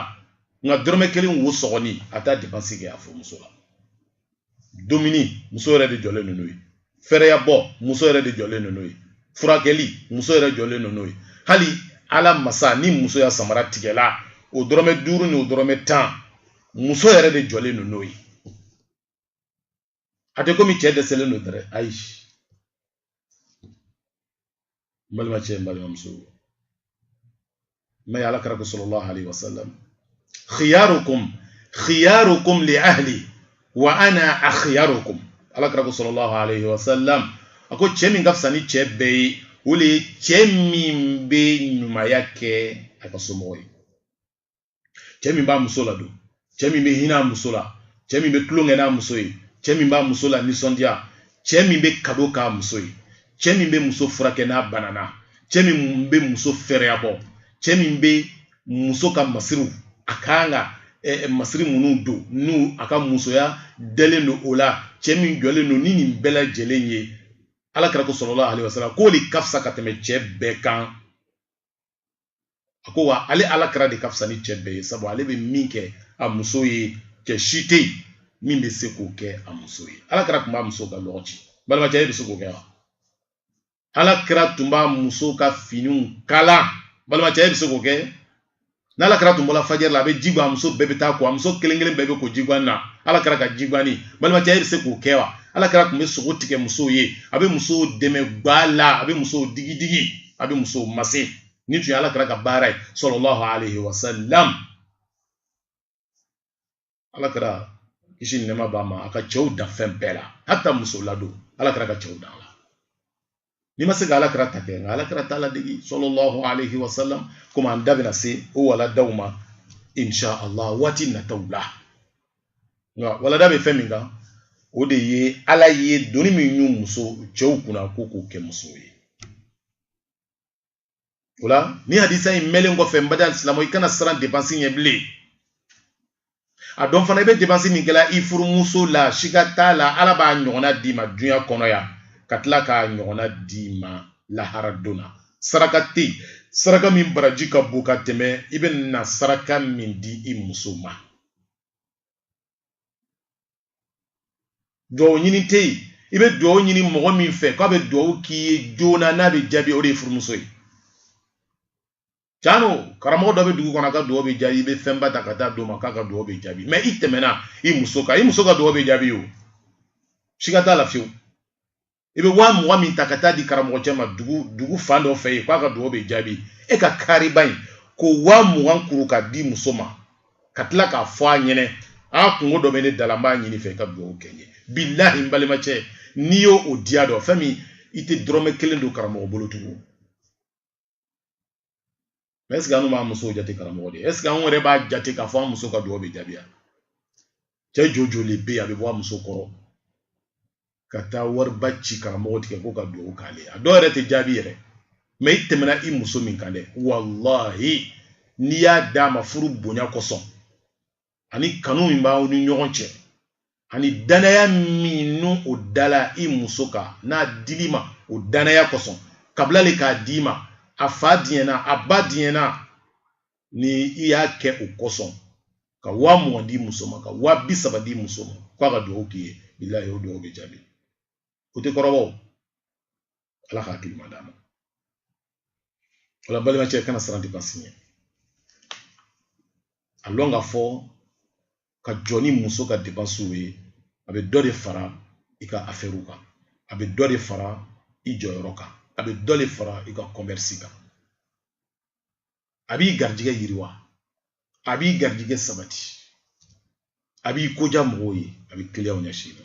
nka dɔrɔmɛ kelen wo sɔgɔni a t'a depansi kɛ a furumuso la dumuni muso yɛrɛ de jɔlen don n'o ye fɛrɛya bɔ muso yɛrɛ de jɔlen don n'o ye furakɛli muso yɛrɛ jɔlen don n'o ye hali ala masa ni muso ya samara tigɛla o dɔrɔmɛ duuru ni o dɔrɔmɛ tan muso yɛrɛ de jɔlen don n'o ye a tɛ komi cɛ dɛsɛlen don dɛrɛ ayi n balimacɛ n balimamuso ma ye ala kira ko sallallahu alaihi wasallam khiyarukum khiyarukum li ahli wa ana akhiyarukum ala kira ko sallallahu alaihi wasallam a ko cɛ min ka fisa ni cɛ bɛɛ ye o de ye cɛ min bɛ ɲumaya kɛ a ka somɔgɔ ye cɛ min b'a muso ladon cɛ min bɛ hinɛ a muso la cɛ min bɛ tulonkɛ n'a muso ye cɛ min b'a muso lanisɔndiya cɛ min bɛ kado k'a muso ye cɛ min bɛ muso furakɛ n'a banana cɛ min bɛ muso fɛrɛya bɔ cɛ min bɛ muso ka masiriw a kan ka Eh, eh, masiri minnu don n'a ka musoya dɛlen don o la cɛ min jɔlen don ni nin bɛɛ lajɛlen ye ala kira ko sallallahu alaihi wasallam k'o de ka fisa ka tɛmɛ cɛ bɛɛ kan a ko wa ale ala kira de ka fisa ni cɛ bɛɛ ye sabu ale bɛ min kɛ a muso ye cɛ si tɛ yen min bɛ se k'o kɛ a muso ye ala kira tun b'a muso ka lɔgɔ ci balimacɛ e bɛ se k'o kɛ wa ala kira tun b'a muso ka finiw kala balimacɛ e bɛ se k'o kɛ n'ala kira tun bɔra fajiri la a bɛ ji bɔ a muso bɛɛ bɛ taa ko a muso kelen kelen bɛɛ bɛ ko jiguan na ala kira ka jiguanni balimacɛ e bɛ se k'o kɛ wa ala kira tun bɛ sogo tigɛ musow ye a bɛ musow dɛmɛ gba la a bɛ musow digi digi a bɛ musow mase nin tun ye ala kira ka baara ye sallallahu alayhi wa sallam ala kira kisi ni nɛma b'a ma a ka cɛw dan fɛn bɛɛ la hata muso ladon ala kira ka cɛw dan la n'i ma se ka ala kira ta kɛ nka ala kira ta ladege sallallahu alayhi wa sallam komi an da bɛna se o waladaw ma insha allah waati nataw la nka walada bɛ fɛn min kan o de ye ala ye doni min ɲun muso cɛw kunna ko u k'o kɛ muso ye o la ni hadisa in mɛlen kɔfɛ n baden silamɛ i kana siran depansi ɲɛ bilen a dɔn fana i bɛ depansi min kɛla i furumuso la siga t'a la ala b'a ɲɔgɔnna d'i ma dunya kɔnɔ yan ka tila k'a ɲɔgɔnna d'i ma lahara don na saraka tɛ yen saraka min baraji ka bon ka tɛmɛ i bɛna saraka min di i muso ma duwawu ɲini tɛ yen i bɛ duwawu ɲini mɔgɔ min fɛ k'a bɛ duwawu k'i ye joona n'a bɛ jaabi o de ye furumuso ye can lo karamɔgɔ dɔ bɛ dugu kɔnɔ a ka duwawu bɛ jaabi i bɛ fɛnba ta ka taa d'o ma k'a ka duwawu bɛ jaabi mɛ i tɛmɛna i muso kan i muso ka duwawu bɛ jaabi o siga t'a la fiyewu i bɛ waa mugan min ta ka taa di karamɔgɔ cɛ ma dugu fan dɔ fɛ yen k'a ka dugawu bɛ jaabi e ka kariba in k'o waa mugan kuru ka di muso ma ka tila k'a fɔ a ɲɛnɛ a kunko dɔ bɛ ne da la n b'a ɲin'i fɛ i ka dugawu kɛ n ye bilahi n balimacɛ n'i y'o diya dɔn fɛn min i tɛ dɔrɔmɛ kelen don karamɔgɔ bolo tugun mɛ ɛsike anw b'an musow jate karamɔgɔ de ye ɛsike anw yɛrɛ b'a jate k'a fɔ an muso ka dugawu bɛ jaabi a cɛ jojoli bɛ yen a bɛ bɔ a muso kɔrɔ ka taa wariba ci karamɔgɔ tigɛ k'o ka dugawu k'ale ye a dɔw yɛrɛ tɛ jaabi yɛrɛ mɛ i tɛmɛna i muso min kan dɛ walahi n'i y'a d'a ma furu bonya kosɔn ani kanu min b'aw ni ɲɔgɔn cɛ ani danaya min n'o o dala i muso kan n'a dil'i ma o danaya kosɔn kabila le k'a d'i ma a fa diɲɛna a ba diɲɛna ni i y'a kɛ o kosɔn ka waa mugan di muso ma ka waa bi saba di muso ma k'a ka dugawu k'i ye bilahi o dugawu bɛ jaabi o tɛ kɔrɔbɔ ala ka hakili ɲuman d'an ma o la balimacɛ kana siran depansi ɲɛ a lɔn k'a fɔ ka jɔ ni muso ka depansiw ye a bɛ dɔ de fara i ka afɛriw kan a bɛ dɔ de fara i jɔyɔrɔ kan a bɛ dɔ de fara i ka kɔmɛrisi kan a b'i garijɛgɛ yiriwa a b'i garijɛgɛ sabati a b'i ko diya mɔgɔw ye a bɛ kiliyanw ɲɛsin i ma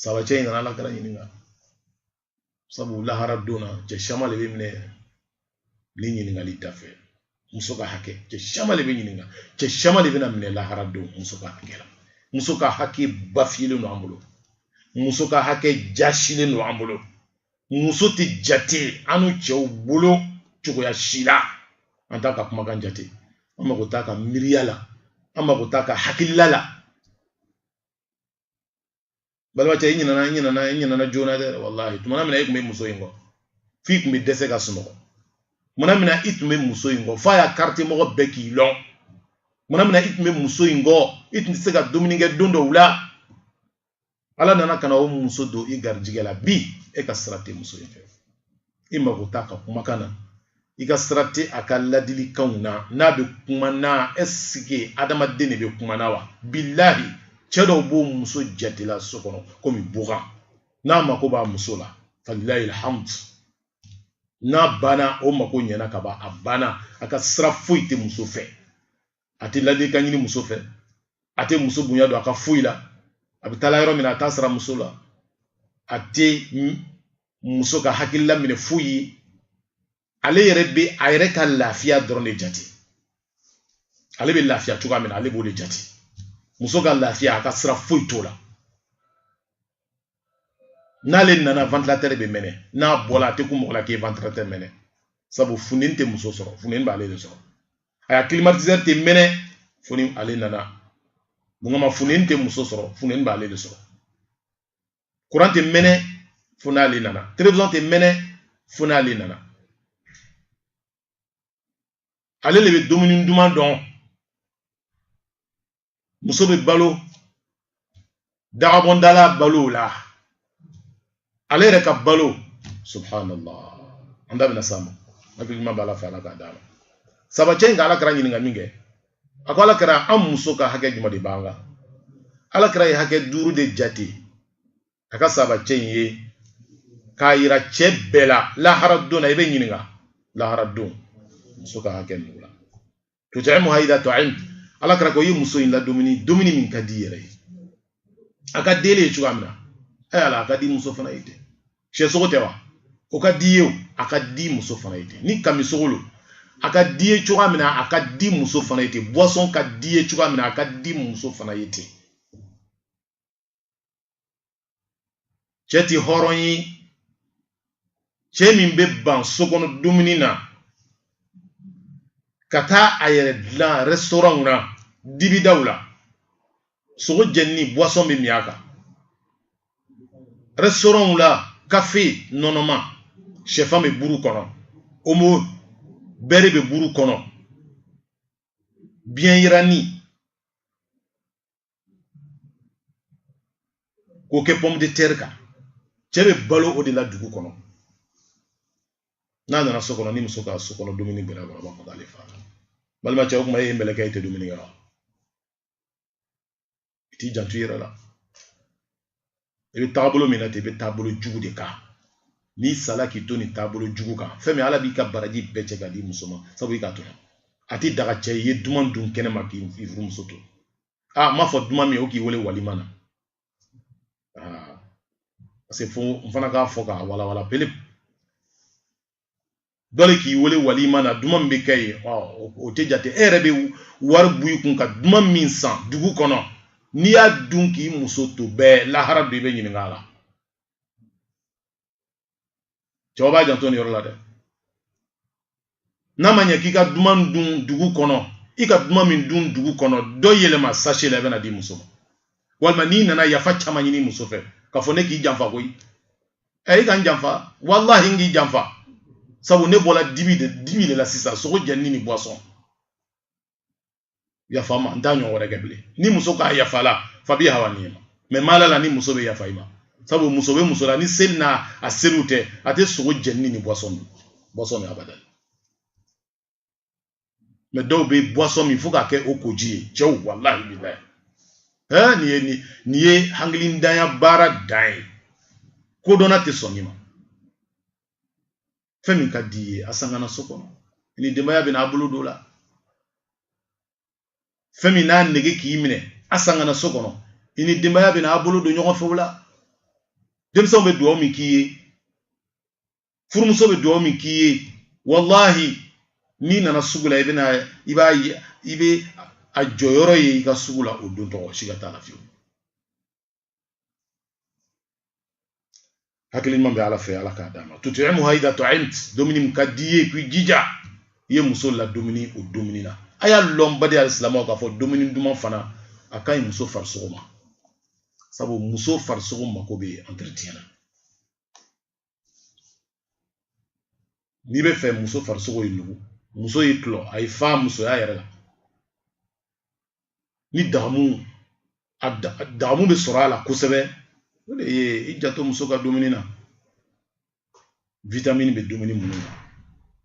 sahaba cɛ in nana ala kira ɲininka sabu lahara don na cɛ caman de bɛ minɛ ni ɲininkali dafɛ muso ka hakɛ cɛ caman de bɛ ɲininka cɛ caman de bɛna minɛ lahara don muso ka hakɛ la muso ka hakɛ bafilen don an bolo muso ka hakɛ jasilen don an bolo muso tɛ jate annu cɛw bolo cogoya si la an t'a ka kumakan jate an mago t'a ka miiriya la an mago t'a ka hakilila la balimacɛ i ɲinana i ɲinana i ɲinana joona dɛ walahi tumana min na e tun bɛ muso in kɔ f'i tun bɛ dɛsɛ ka sunɔgɔ tumana min na i tun bɛ muso in kɔ f'a ya kartiye mɔgɔ bɛɛ k'i lɔn tumana min na i tun bɛ muso in kɔ i tun tɛ se ka dumuni kɛ don dɔw la ala nana ka na o muso don i garijigɛ la bi e ka sira tɛ muso in fɛ i mago t'a ka kumakan na i ka sira tɛ a ka ladilikanw na n'a bɛ kuma na ɛsike adamaden de bɛ kuma na wa bilahi cɛ dɔw b'u muso jate la so kɔnɔ komi bagan n'a mako b'a muso la falilahi alhamdu n'a banna o mako ɲɛna ka ban a banna a ka sira foyi tɛ muso fɛ a tɛ ladilikan ɲini muso fɛ a tɛ muso bonya don a ka foyi la a bɛ taa la yɔrɔ min na a t'a sara muso la a tɛ muso ka hakilila minɛ foyi ye ale yɛrɛ bɛ a yɛrɛ ka lafiya dɔrɔn de jate ale bɛ lafiya cogoya min na ale b'o de jate muso ka lafiya a ka sira foyi t'o la n'ale nana ventilateur bɛ mɛnɛ n'a bɔla a tɛ kun mɔgɔ la k'e ventilateur mɛnɛ sabu funteni tɛ muso sɔrɔ funteni b'ale de sɔrɔ a ya climatiseur tɛ mɛnɛ fo ni ale nana mun kama funteni tɛ muso sɔrɔ funteni b'ale de sɔrɔ kuran tɛ mɛnɛ fo n'ale nana television tɛ mɛnɛ fo n'ale nana ale de bɛ dumuni duman dun muso bɛ balo dagabɔndala balo la ale yɛrɛ ka balo subhanallah an da bɛna s'a ma hakili ɲuman b'ala fɛ ala k'a d'an ma sahabacɛ in ka ala kira ɲininka min kɛ a ko ala kira an muso ka hakɛ jumɛn de b'an kan ala kira ye hakɛ duuru de jate a ka sahabacɛ in ye k'a yira cɛ bɛɛ la lahara don na i bɛ ɲininka lahara don muso ka hakɛ ninnu la tut'imuha idha tu'imt ala kira ko i ye muso in ladumuni dumuni min ka di i yɛrɛ ye a ka di e ye cogoya min na ɛ ala a ka di muso fana ye ten sɛ sogo tɛ wa o ka d'i ye o a ka di muso fana ye ten ni kami sogo lo a ka d'i ye cogoya min na a ka di muso fana ye ten boisson ka d'i ye cogoya min na a ka di muso fana ye ten cɛ ti hɔrɔn ye cɛ min bɛ ban so kɔnɔ dumuni na ka taa a yɛrɛ dilan restaurant na dibidaw la sogo jɛninin boisson bɛ min a kan restaurant la kafe nɔnɔma sɛfan bɛ buru kɔnɔ omo bɛri bɛ buru kɔnɔ biyɛn yiranin k'o kɛ pomme de terre kan cɛ bɛ balo o de la dugu kɔnɔ n'a nana so kɔnɔ ni muso ka so kɔnɔ dumuni gɛrɛ a kɔrɔ b'a fɔ k'ale fa balima cɛ o kuma e ye mɛlɛkɛ i tɛ dumuni kɛ wa i t'i janto i yɛrɛ la i bɛ taabolo min na ten i bɛ taabolo jugu de kan n'i sala k'i to nin taabolo jugu kan fɛn min ala b'i ka baraji bɛɛ cɛ ka di muso ma sabu i k'a tɔɲɔ a tɛ daga cɛ i ye duman dun kɛnɛ ma k'i furumuso to n m'a fɔ duman min o k'i wele walima na parce que fo n fana k'a fɔ k'a walawala pele dɔ de k'i wele walima na duman min bɛ kɛ yen o tɛ jate e yɛrɛ bɛ wari bɔ i kun ka duman min san dugu kɔnɔ n'i y'a dun k'i muso to bɛɛ lahara don i bɛ ɲininka a la cɛw b'a janto nin yɔrɔ la dɛ n'a ma ɲɛ k'i ka duman dun dugu kɔnɔ i ka duman min dun dugu kɔnɔ dɔ yɛlɛma sachet la i bɛna a di muso ma walima n'i nana yafa caman ɲini muso fɛ k'a fɔ ne k'i janfa koyi a i ka n janfa wallahi n k'i janfa sabu ne bɔla dibi de la sisan sogo jɛninin ni boisson yafa n ma n t'a ɲɔgɔn wɛrɛ kɛ bilen ni muso k'a yafa la fabiha wa niima mais n ma la a la ni muso bɛ yafa i ma sabu muso bɛ muso la ni seli n'a a seliw tɛ a tɛ sogo jɛninin ni boisson min abada mais dɔw bɛ boisson min fo k'a kɛ u koji ye cɛw walahi bilahi ɛɛ nin ye nin nin ye hakilintanya baara dan ye kodɔnna tɛ sɔn nin ma fɛn min ka di i ye a san ka na so kɔnɔ i ni denbaya bɛna a bolo don a la fɛn min n'a nege k'i minɛ a san ka na so kɔnɔ i ni denbaya bɛna a bolo don ɲɔgɔn fɛ o la denmisɛnw bɛ dugawu min k'i ye furumuso bɛ dugawu min k'i ye walahi n'i nana sugu la i bɛna i b'a ye i bɛ a jɔyɔrɔ ye i ka sugu la o don tɔgɔ sika t'a la fiyewu hakili ɲuman bɛ ala fɛ ala k'a d'an ma tut'imuha idha ta'imt dumuni min ka di i ye k'i jija i ye muso ladumuni o dumuni na a y'a lɔn baden alisilamɛw k'a fɔ dumuni duman fana a ka ɲi muso farisogo ma sabu muso farisogo mako bɛ entretien na n'i bɛ fɛ muso farisogo ye nugu muso ye tulɔ a ye fa musoya yɛrɛ la ni dagamu a dagamu bɛ sɔrɔ a la kosɛbɛ o de ye i janto muso ka dumuni na witamini bɛ dumuni minnu na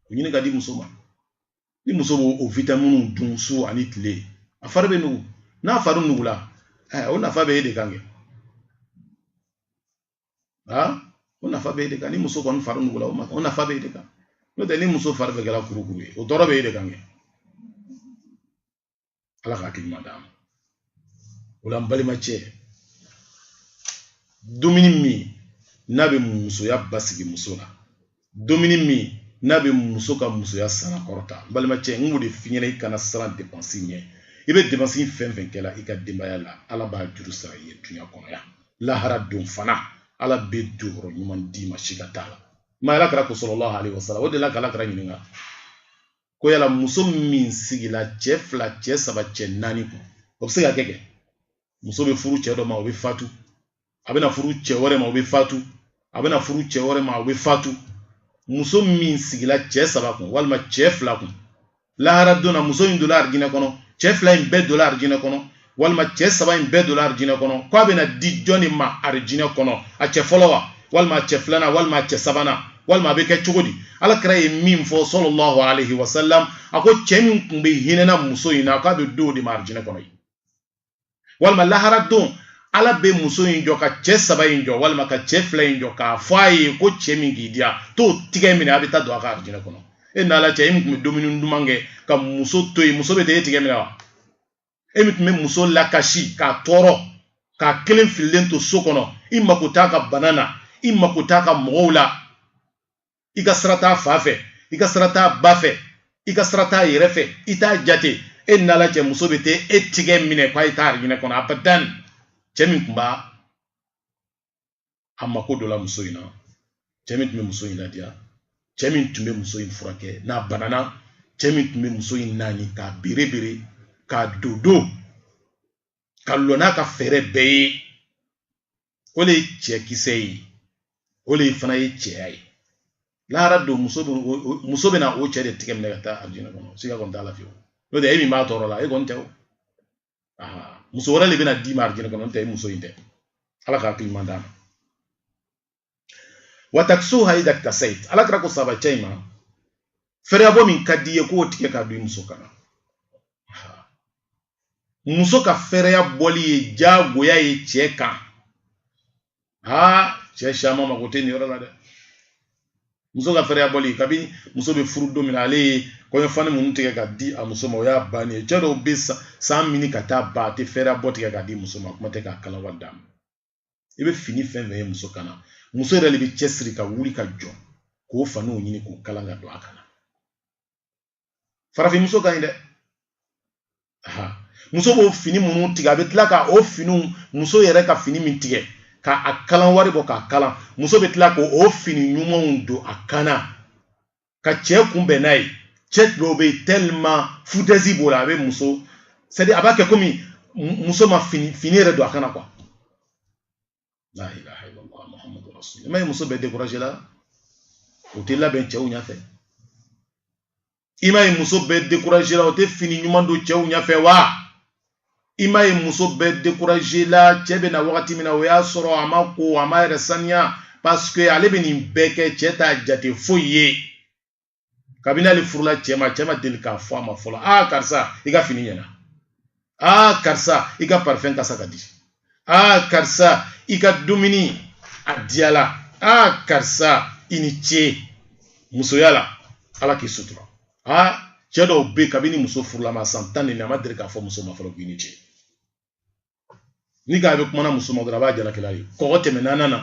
o ɲini k'a di muso ma ni muso b'o witaminiw dun su ani tile a fari bɛ nugu n'a fari nugula o nafa bɛ e de kan kɛ aa o nafa b'e de kan ni muso kɔni fari nugula o ma o nafa b'e de kan n'o tɛ ni muso fari bɛɛ kɛra kurukuru ye o tɔɔrɔ b'e de kan kɛ ala ka hakili ɲuman d'an ma o la n balima cɛ dumuni min n'a bɛ musoya basigi muso la dumuni min n'a bɛ muso ka musoya sara kɔrɔta n balimacɛ n b'o de f'i ɲɛna i kana siran depansi ɲɛ i bɛ depansi fɛn fɛn kɛla i ka denbaya la ala b'a juru sara i ye dunya kɔnɔ yan lahara don fana ala bɛ jɔyɔrɔ ɲuman d'i ma sika t'a la ma ala kira ko sallallahu alayhi wa sallam u delila k'ala kira ɲininka ko yala muso min sigila cɛ fila cɛ saba cɛ naani kun o bɛ se ka kɛ kɛ muso bɛ furu cɛ dɔ ma o bɛ fatu a bɛna furu cɛ wɛrɛ ma o bɛ fatu a bɛna furu cɛ wɛrɛ ma o bɛ fatu muso min sigila cɛ saba kun walima cɛ fila kun lahara don na muso in donna arijinɛ kɔnɔ cɛ fila in bɛɛ donna arijinɛ kɔnɔ walima cɛ saba in bɛɛ donna arijinɛ kɔnɔ k'a bɛna di jɔn de ma arijinɛ kɔnɔ a cɛ fɔlɔ wa walima a cɛ filanan walima a cɛ sabanan walima a bɛ kɛ cogo di ala kira ye min fɔ sallallahu alayhi wa sallam a ko cɛ min tun bɛ hinɛna muso in na k'a bɛ d'o de ma arijinɛ kɔnɔ yen walima lahara don ala bɛ muso in jɔ ka cɛ saba in jɔ walima ka cɛ fila in jɔ k'a fɔ a ye ko cɛ min k'i diya t'o tigɛ minɛ a bɛ taa don a ka arijinɛ kɔnɔ e n'ala cɛ e min tun bɛ dumuni duman kɛ ka muso to yen muso bɛ taa e tigɛ minɛ wa e min tun bɛ muso lakasi k'a tɔɔrɔ k'a kelen fililen to so kɔnɔ i mako t'a ka bana na i mako t'a ka mɔgɔw la i ka sira t'a fa fɛ i ka sira t'a ba fɛ i ka sira t'a yɛrɛ fɛ i t'a jate e ni ala cɛ muso bɛ taa e tigɛ minɛ k'a ye taa arijinɛ kɔnɔ abadan cɛ min tun b'a a mako don la muso in na cɛ min tun bɛ muso in ladiya cɛ min tun bɛ muso in furakɛ n'a banana cɛ min tun bɛ muso in naani k'a berebere k'a dodon ka lɔ n'a ka fɛɛrɛ bɛɛ ye o de ye cɛ kisɛ ye o de fana ye cɛya ye lahara don muso bɛna o cɛ de tigɛ minɛ ka taa alijinɛ kɔnɔ siga kɔni t'a la fiyewu n'o tɛ e min b'a tɔɔrɔ la e kɔni tɛ o muso wɛrɛ de bɛna d'i ma alijinɛ kɔnɔ n'o tɛ e muso in tɛ ala ka hakili ɲuman d'an ma wa takisuha ida kitasayit ala kira ko sahaba cɛ in ma fɛrɛyabɔ min ka di i ye k'o tigɛ k'a don i muso kan na muso ka fɛɛrɛya bɔli ye diyagoya ye cɛ kan aa cɛ caman mago tɛ nin yɔrɔ la dɛ muso ka fɛɛrɛya bɔli kabini muso bɛ furu don min na ale ye kɔɲɔfani minnu tigɛ ka di a muso ma o y'a bannen ye cɛ dɔw bɛ san minɛ ka t'a ban a tɛ fɛɛrɛya bɔ tigɛ ka di muso ma kuma tɛ k'a kala wari d'a ma i bɛ fini fɛn fɛn ye muso kan na muso yɛrɛ de bɛ cɛsiri ka wuli ka jɔ k'o faniw ɲini k'o kalan ka don a kan na farafin muso ka ɲi dɛ muso b'o fini minnu tigɛ a bɛ tila ka o finiw muso yɛrɛ ka fini min tigɛ ka a kalan wari bɔ k'a kalan muso bɛ tila k'o fini ɲumanw don a kan na ka cɛ kunbɛn n'a ye cɛ dɔw bɛ yen tellement foutaise b'o la a bɛ muso c'est-à-dire a b'a kɛ komi muso ma fini yɛrɛ don a kan na quoi la ilaha illallah muhammadu rasulullah i m'a ye muso bɛɛ découragé la o tɛ labɛn cɛw ɲɛfɛ i m'a ye muso bɛɛ découragé la o tɛ fini ɲuman don cɛw ɲɛfɛ wa i m'a ye muso bɛɛ découragé la cɛ bɛ na wagati min na o y'a sɔrɔ a ma ko a m'a yɛrɛ saniya parce que ale bɛ nin bɛɛ kɛ cɛ t'a jate foyi ye kabini ale furula cɛ ma cɛ ma deli k'a fɔ a ma fɔlɔ aa karisa i ka fini ɲɛna aa karisa i ka parifɛn kasa ka di aa karisa i ka dumuni a diyala aa karisa i ni ce musoya la ala k'i sutura aa cɛ dɔw bɛ kabini muso furula a ma san tan ni a ma deli k'a fɔ muso ma fɔlɔ k'i ni ce ni k'a bɛ kuma na muso ma dɔrɔn a b'a jalaki la de kɔgɔ tɛmɛna nan na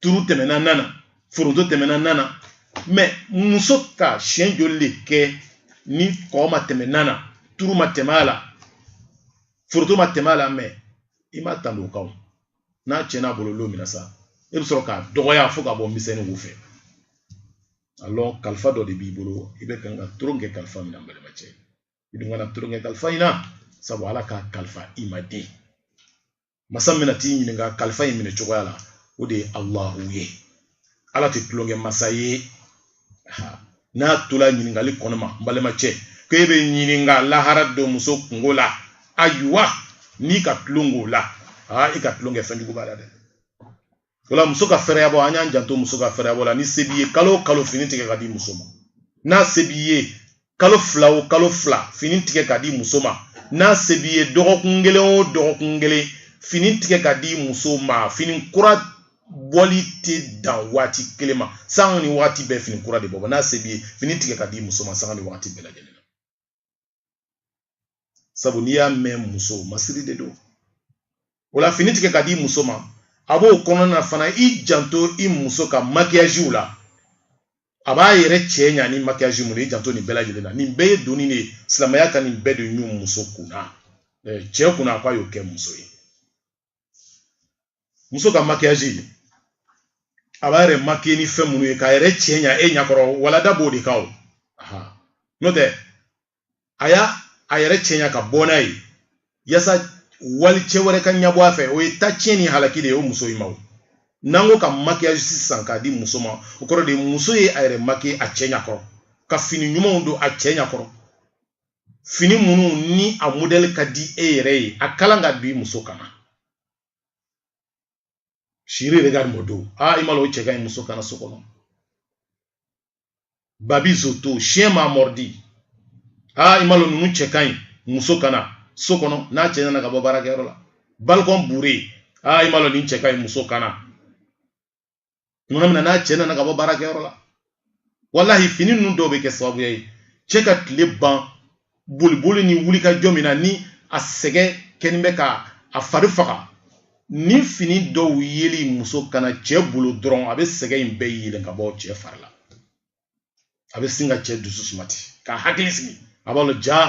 turu tɛmɛna nan na foronto tɛmɛna nan na mais muso ka siɲɛ joli de kɛ ni kɔgɔ ma tɛmɛ nan na turu ma tɛmɛ a la foronto ma tɛmɛ a la mais i m'a tando o kan n'a tiɲɛna a bolo lon min na sa e bɛ sɔrɔ k'a dɔgɔya fo k'a bɔ miseli wo fɛ a lɔn kalifa dɔ de b'i bolo i bɛ kan ka tulon kɛ kalifa min na n balima cɛ i dun kana tulonkɛ kalifa in na sabu ala k'a kalifa i ma de masa min na t'i ɲininka kalifa in minɛ cogoya la o de ye alahu ye ala tɛ tulonkɛ masa ye n'a tola ɲininkali kɔnɔ ma n balima cɛ ko e bɛ ɲininka lahara don muso kunko la ayiwa n'i ka tulon k'o la aa i ka tulon kɛ fɛn jugu b'a la dɛ o la muso ka fɛrɛyabɔ an y'an janto muso ka fɛrɛyabɔ la ni se b'i ye kalo o kalo fini tigɛ ka di muso ma n'a se b'i ye kalo fila o kalo fila fini tigɛ ka di muso ma n'a se b'i ye dɔgɔkun kelen o dɔgɔkun kelen fini tigɛ ka di muso ma fini kura bɔli tɛ dan waati kelen ma sanga ni waati bɛɛ fini kura de bɛ bɔ n'a se b'i ye fini tigɛ ka di muso ma sanga ni waati bɛɛ lajɛlen sabu n'i y'a mɛn muso masiri de don o la fini tigɛ ka di muso ma a b'o kɔnɔna na fana i janto i muso ka makiyajiw la a b'a yɛrɛ cɛ ɲa ni makiyaji mun ye i janto nin bɛɛ lajɛlen na nin bɛɛ ye doni de ye silamɛya ka nin bɛɛ de ɲun muso kunna cɛ kunna a ko a y'o kɛ muso ye muso ka makiyaji a b'a yɛrɛ makiye ni fɛn minnu ye k'a yɛrɛ cɛ ɲa e ɲakɔrɔ o la n da b'o de kan o n'o tɛ a y'a a yɛrɛ cɛ ɲa ka bɔ n'a ye yasa walicɛ wɛrɛ ka ɲabɔ a fɛ o ye ta tiɲɛ ni halaki de ye o muso in ma o n'an ko ka makiyaji sisan k'a di muso ma o kɔrɔ de muso ye a yɛrɛ makiye a cɛ ɲakɔrɔ ka fini ɲumanw don a cɛ ɲakɔrɔ fini minnu ni a modɛli ka di e yɛrɛ ye a kalan k'a bil'i muso kan na chéri regarde mon dos aa i m'a lɔn o cɛ ka ɲi muso kan na so kɔnɔ babi zoto chien m'a mordu aa i m'a lɔn ninnu cɛ ka ɲi muso kan na so kɔnɔ n'a cɛ nana ka bɔ baarakɛyɔrɔ la balcon bourré aa i m'a lɔn nin cɛ ka ɲi muso kan na tuma min na n'a cɛ nana ka bɔ baarakɛyɔrɔ la walahi fini ninnu dɔw bɛ kɛ sababuya ye cɛ ka tile ban boliboli ni wulikajɔ min na ni a sɛgɛn kɛnin bɛ ka a fari faga ni fini dɔw yeli muso kan na cɛ bolo dɔrɔn a bɛ sɛgɛn in bɛɛ yɛlɛn ka bɔ cɛ fari la a bɛ sin ka cɛ dusu suma ten k'a hakili sigi a b'a dɔn jaa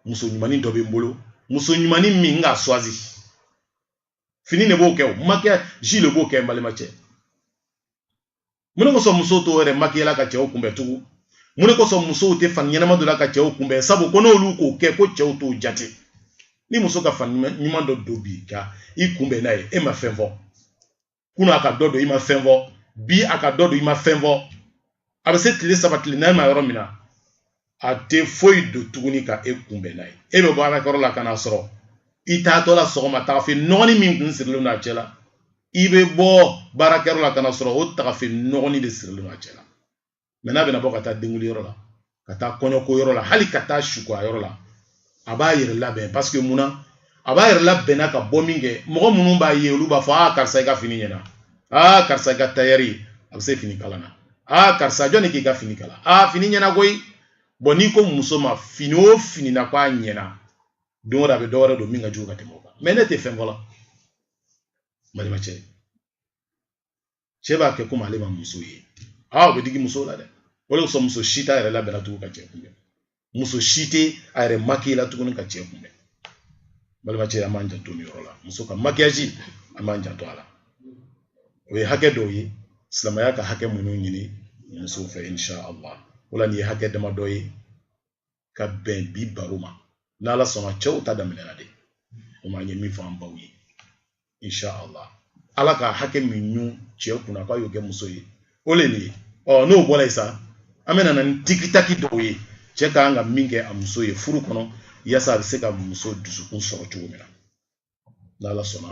muso ɲumanin dɔ bɛ n bolo muso ɲumanin min n k'a suwazi fini de b'o kɛ o makiyaji de b'o kɛ n balima cɛ mun de kosɔn musow t'o yɛrɛ makiyala ka cɛw kunbɛn tugun mun de kosɔn musow tɛ fani ɲɛnama don la ka cɛw kunbɛn sabu ko n'olu k'o kɛ ko cɛw t'o jate ni muso ka fani ɲuman dɔ don bi ka i kunbɛn n'a ye e ma fɛn fɔ kunun a ka dɔ don i ma fɛn fɔ bi a ka dɔ don i ma fɛn fɔ a bɛ se tile saba tile naani ma yɔrɔ min na a tɛ foyi don tuguni ka e kunbɛn n'a ye e bɛ bɔ baarakɛyɔrɔ la ka n'a sɔrɔ i taatɔ la sɔgɔma tagafe nɔgɔni min kun sirilen don a cɛ la i bɛ bɔ baarakɛyɔrɔ la ka n'a sɔrɔ o tagafe nɔgɔni de sirilen don a cɛ la mɛ n'a bɛna bɔ ka taa denwuliyɔrɔ la ka taa kɔɲɔko yɔrɔ la hali ka taa suko yɔrɔ la a b'a yɛrɛ labɛn parce que mun na a b'a yɛrɛ labɛnna ka bɔ min kɛ mɔgɔ minnu b'a ye olu b'a fɔ aa karisa i ka fini ɲɛna aa karisa i ka tayɛri a bɛ se fini kalan na aa karisa jɔni k'i ka fini kalan aa fini ɲɛna koyi bon n'i ko muso ma fini o fini na ko a ɲɛna don o don a bɛ dɔ wɛrɛ don min ka jugu ka tɛmɛ o kan mais ne tɛ fɛn fɔla balimacɛ cɛ b'a kɛ komi ale ma muso ye aa o bɛ digi muso la dɛ o de kosɔn muso si t'a yɛrɛ labɛnna tugun ka cɛ kunbɛn muso si tɛ a yɛrɛ makiye la tuguni ka cɛ kunbɛn balimacɛ an b'an janto nin yɔrɔ la muso ka makiyaji an b'an janto a la o ye hakɛ dɔw ye silamɛya ka hakɛ minnu ɲini musow fɛ insha allah o la nin ye hakɛ damadɔ ye ka bɛn bi baro ma n'ala sɔnna cɛw ta daminɛna de o ma ye min fɔ an baw ye insha allah ala ka hakɛ min ɲun cɛ kunna k'a y'o kɛ muso ye o le nin ye ɔ n'o bɔra yen sa an bɛna na ni tikitaki dɔw ye cɛ ka kan ka min kɛ a muso ye furu kɔnɔ yaasa a bɛ se ka muso dusukun sɔrɔ cogo min na n'ala sɔnna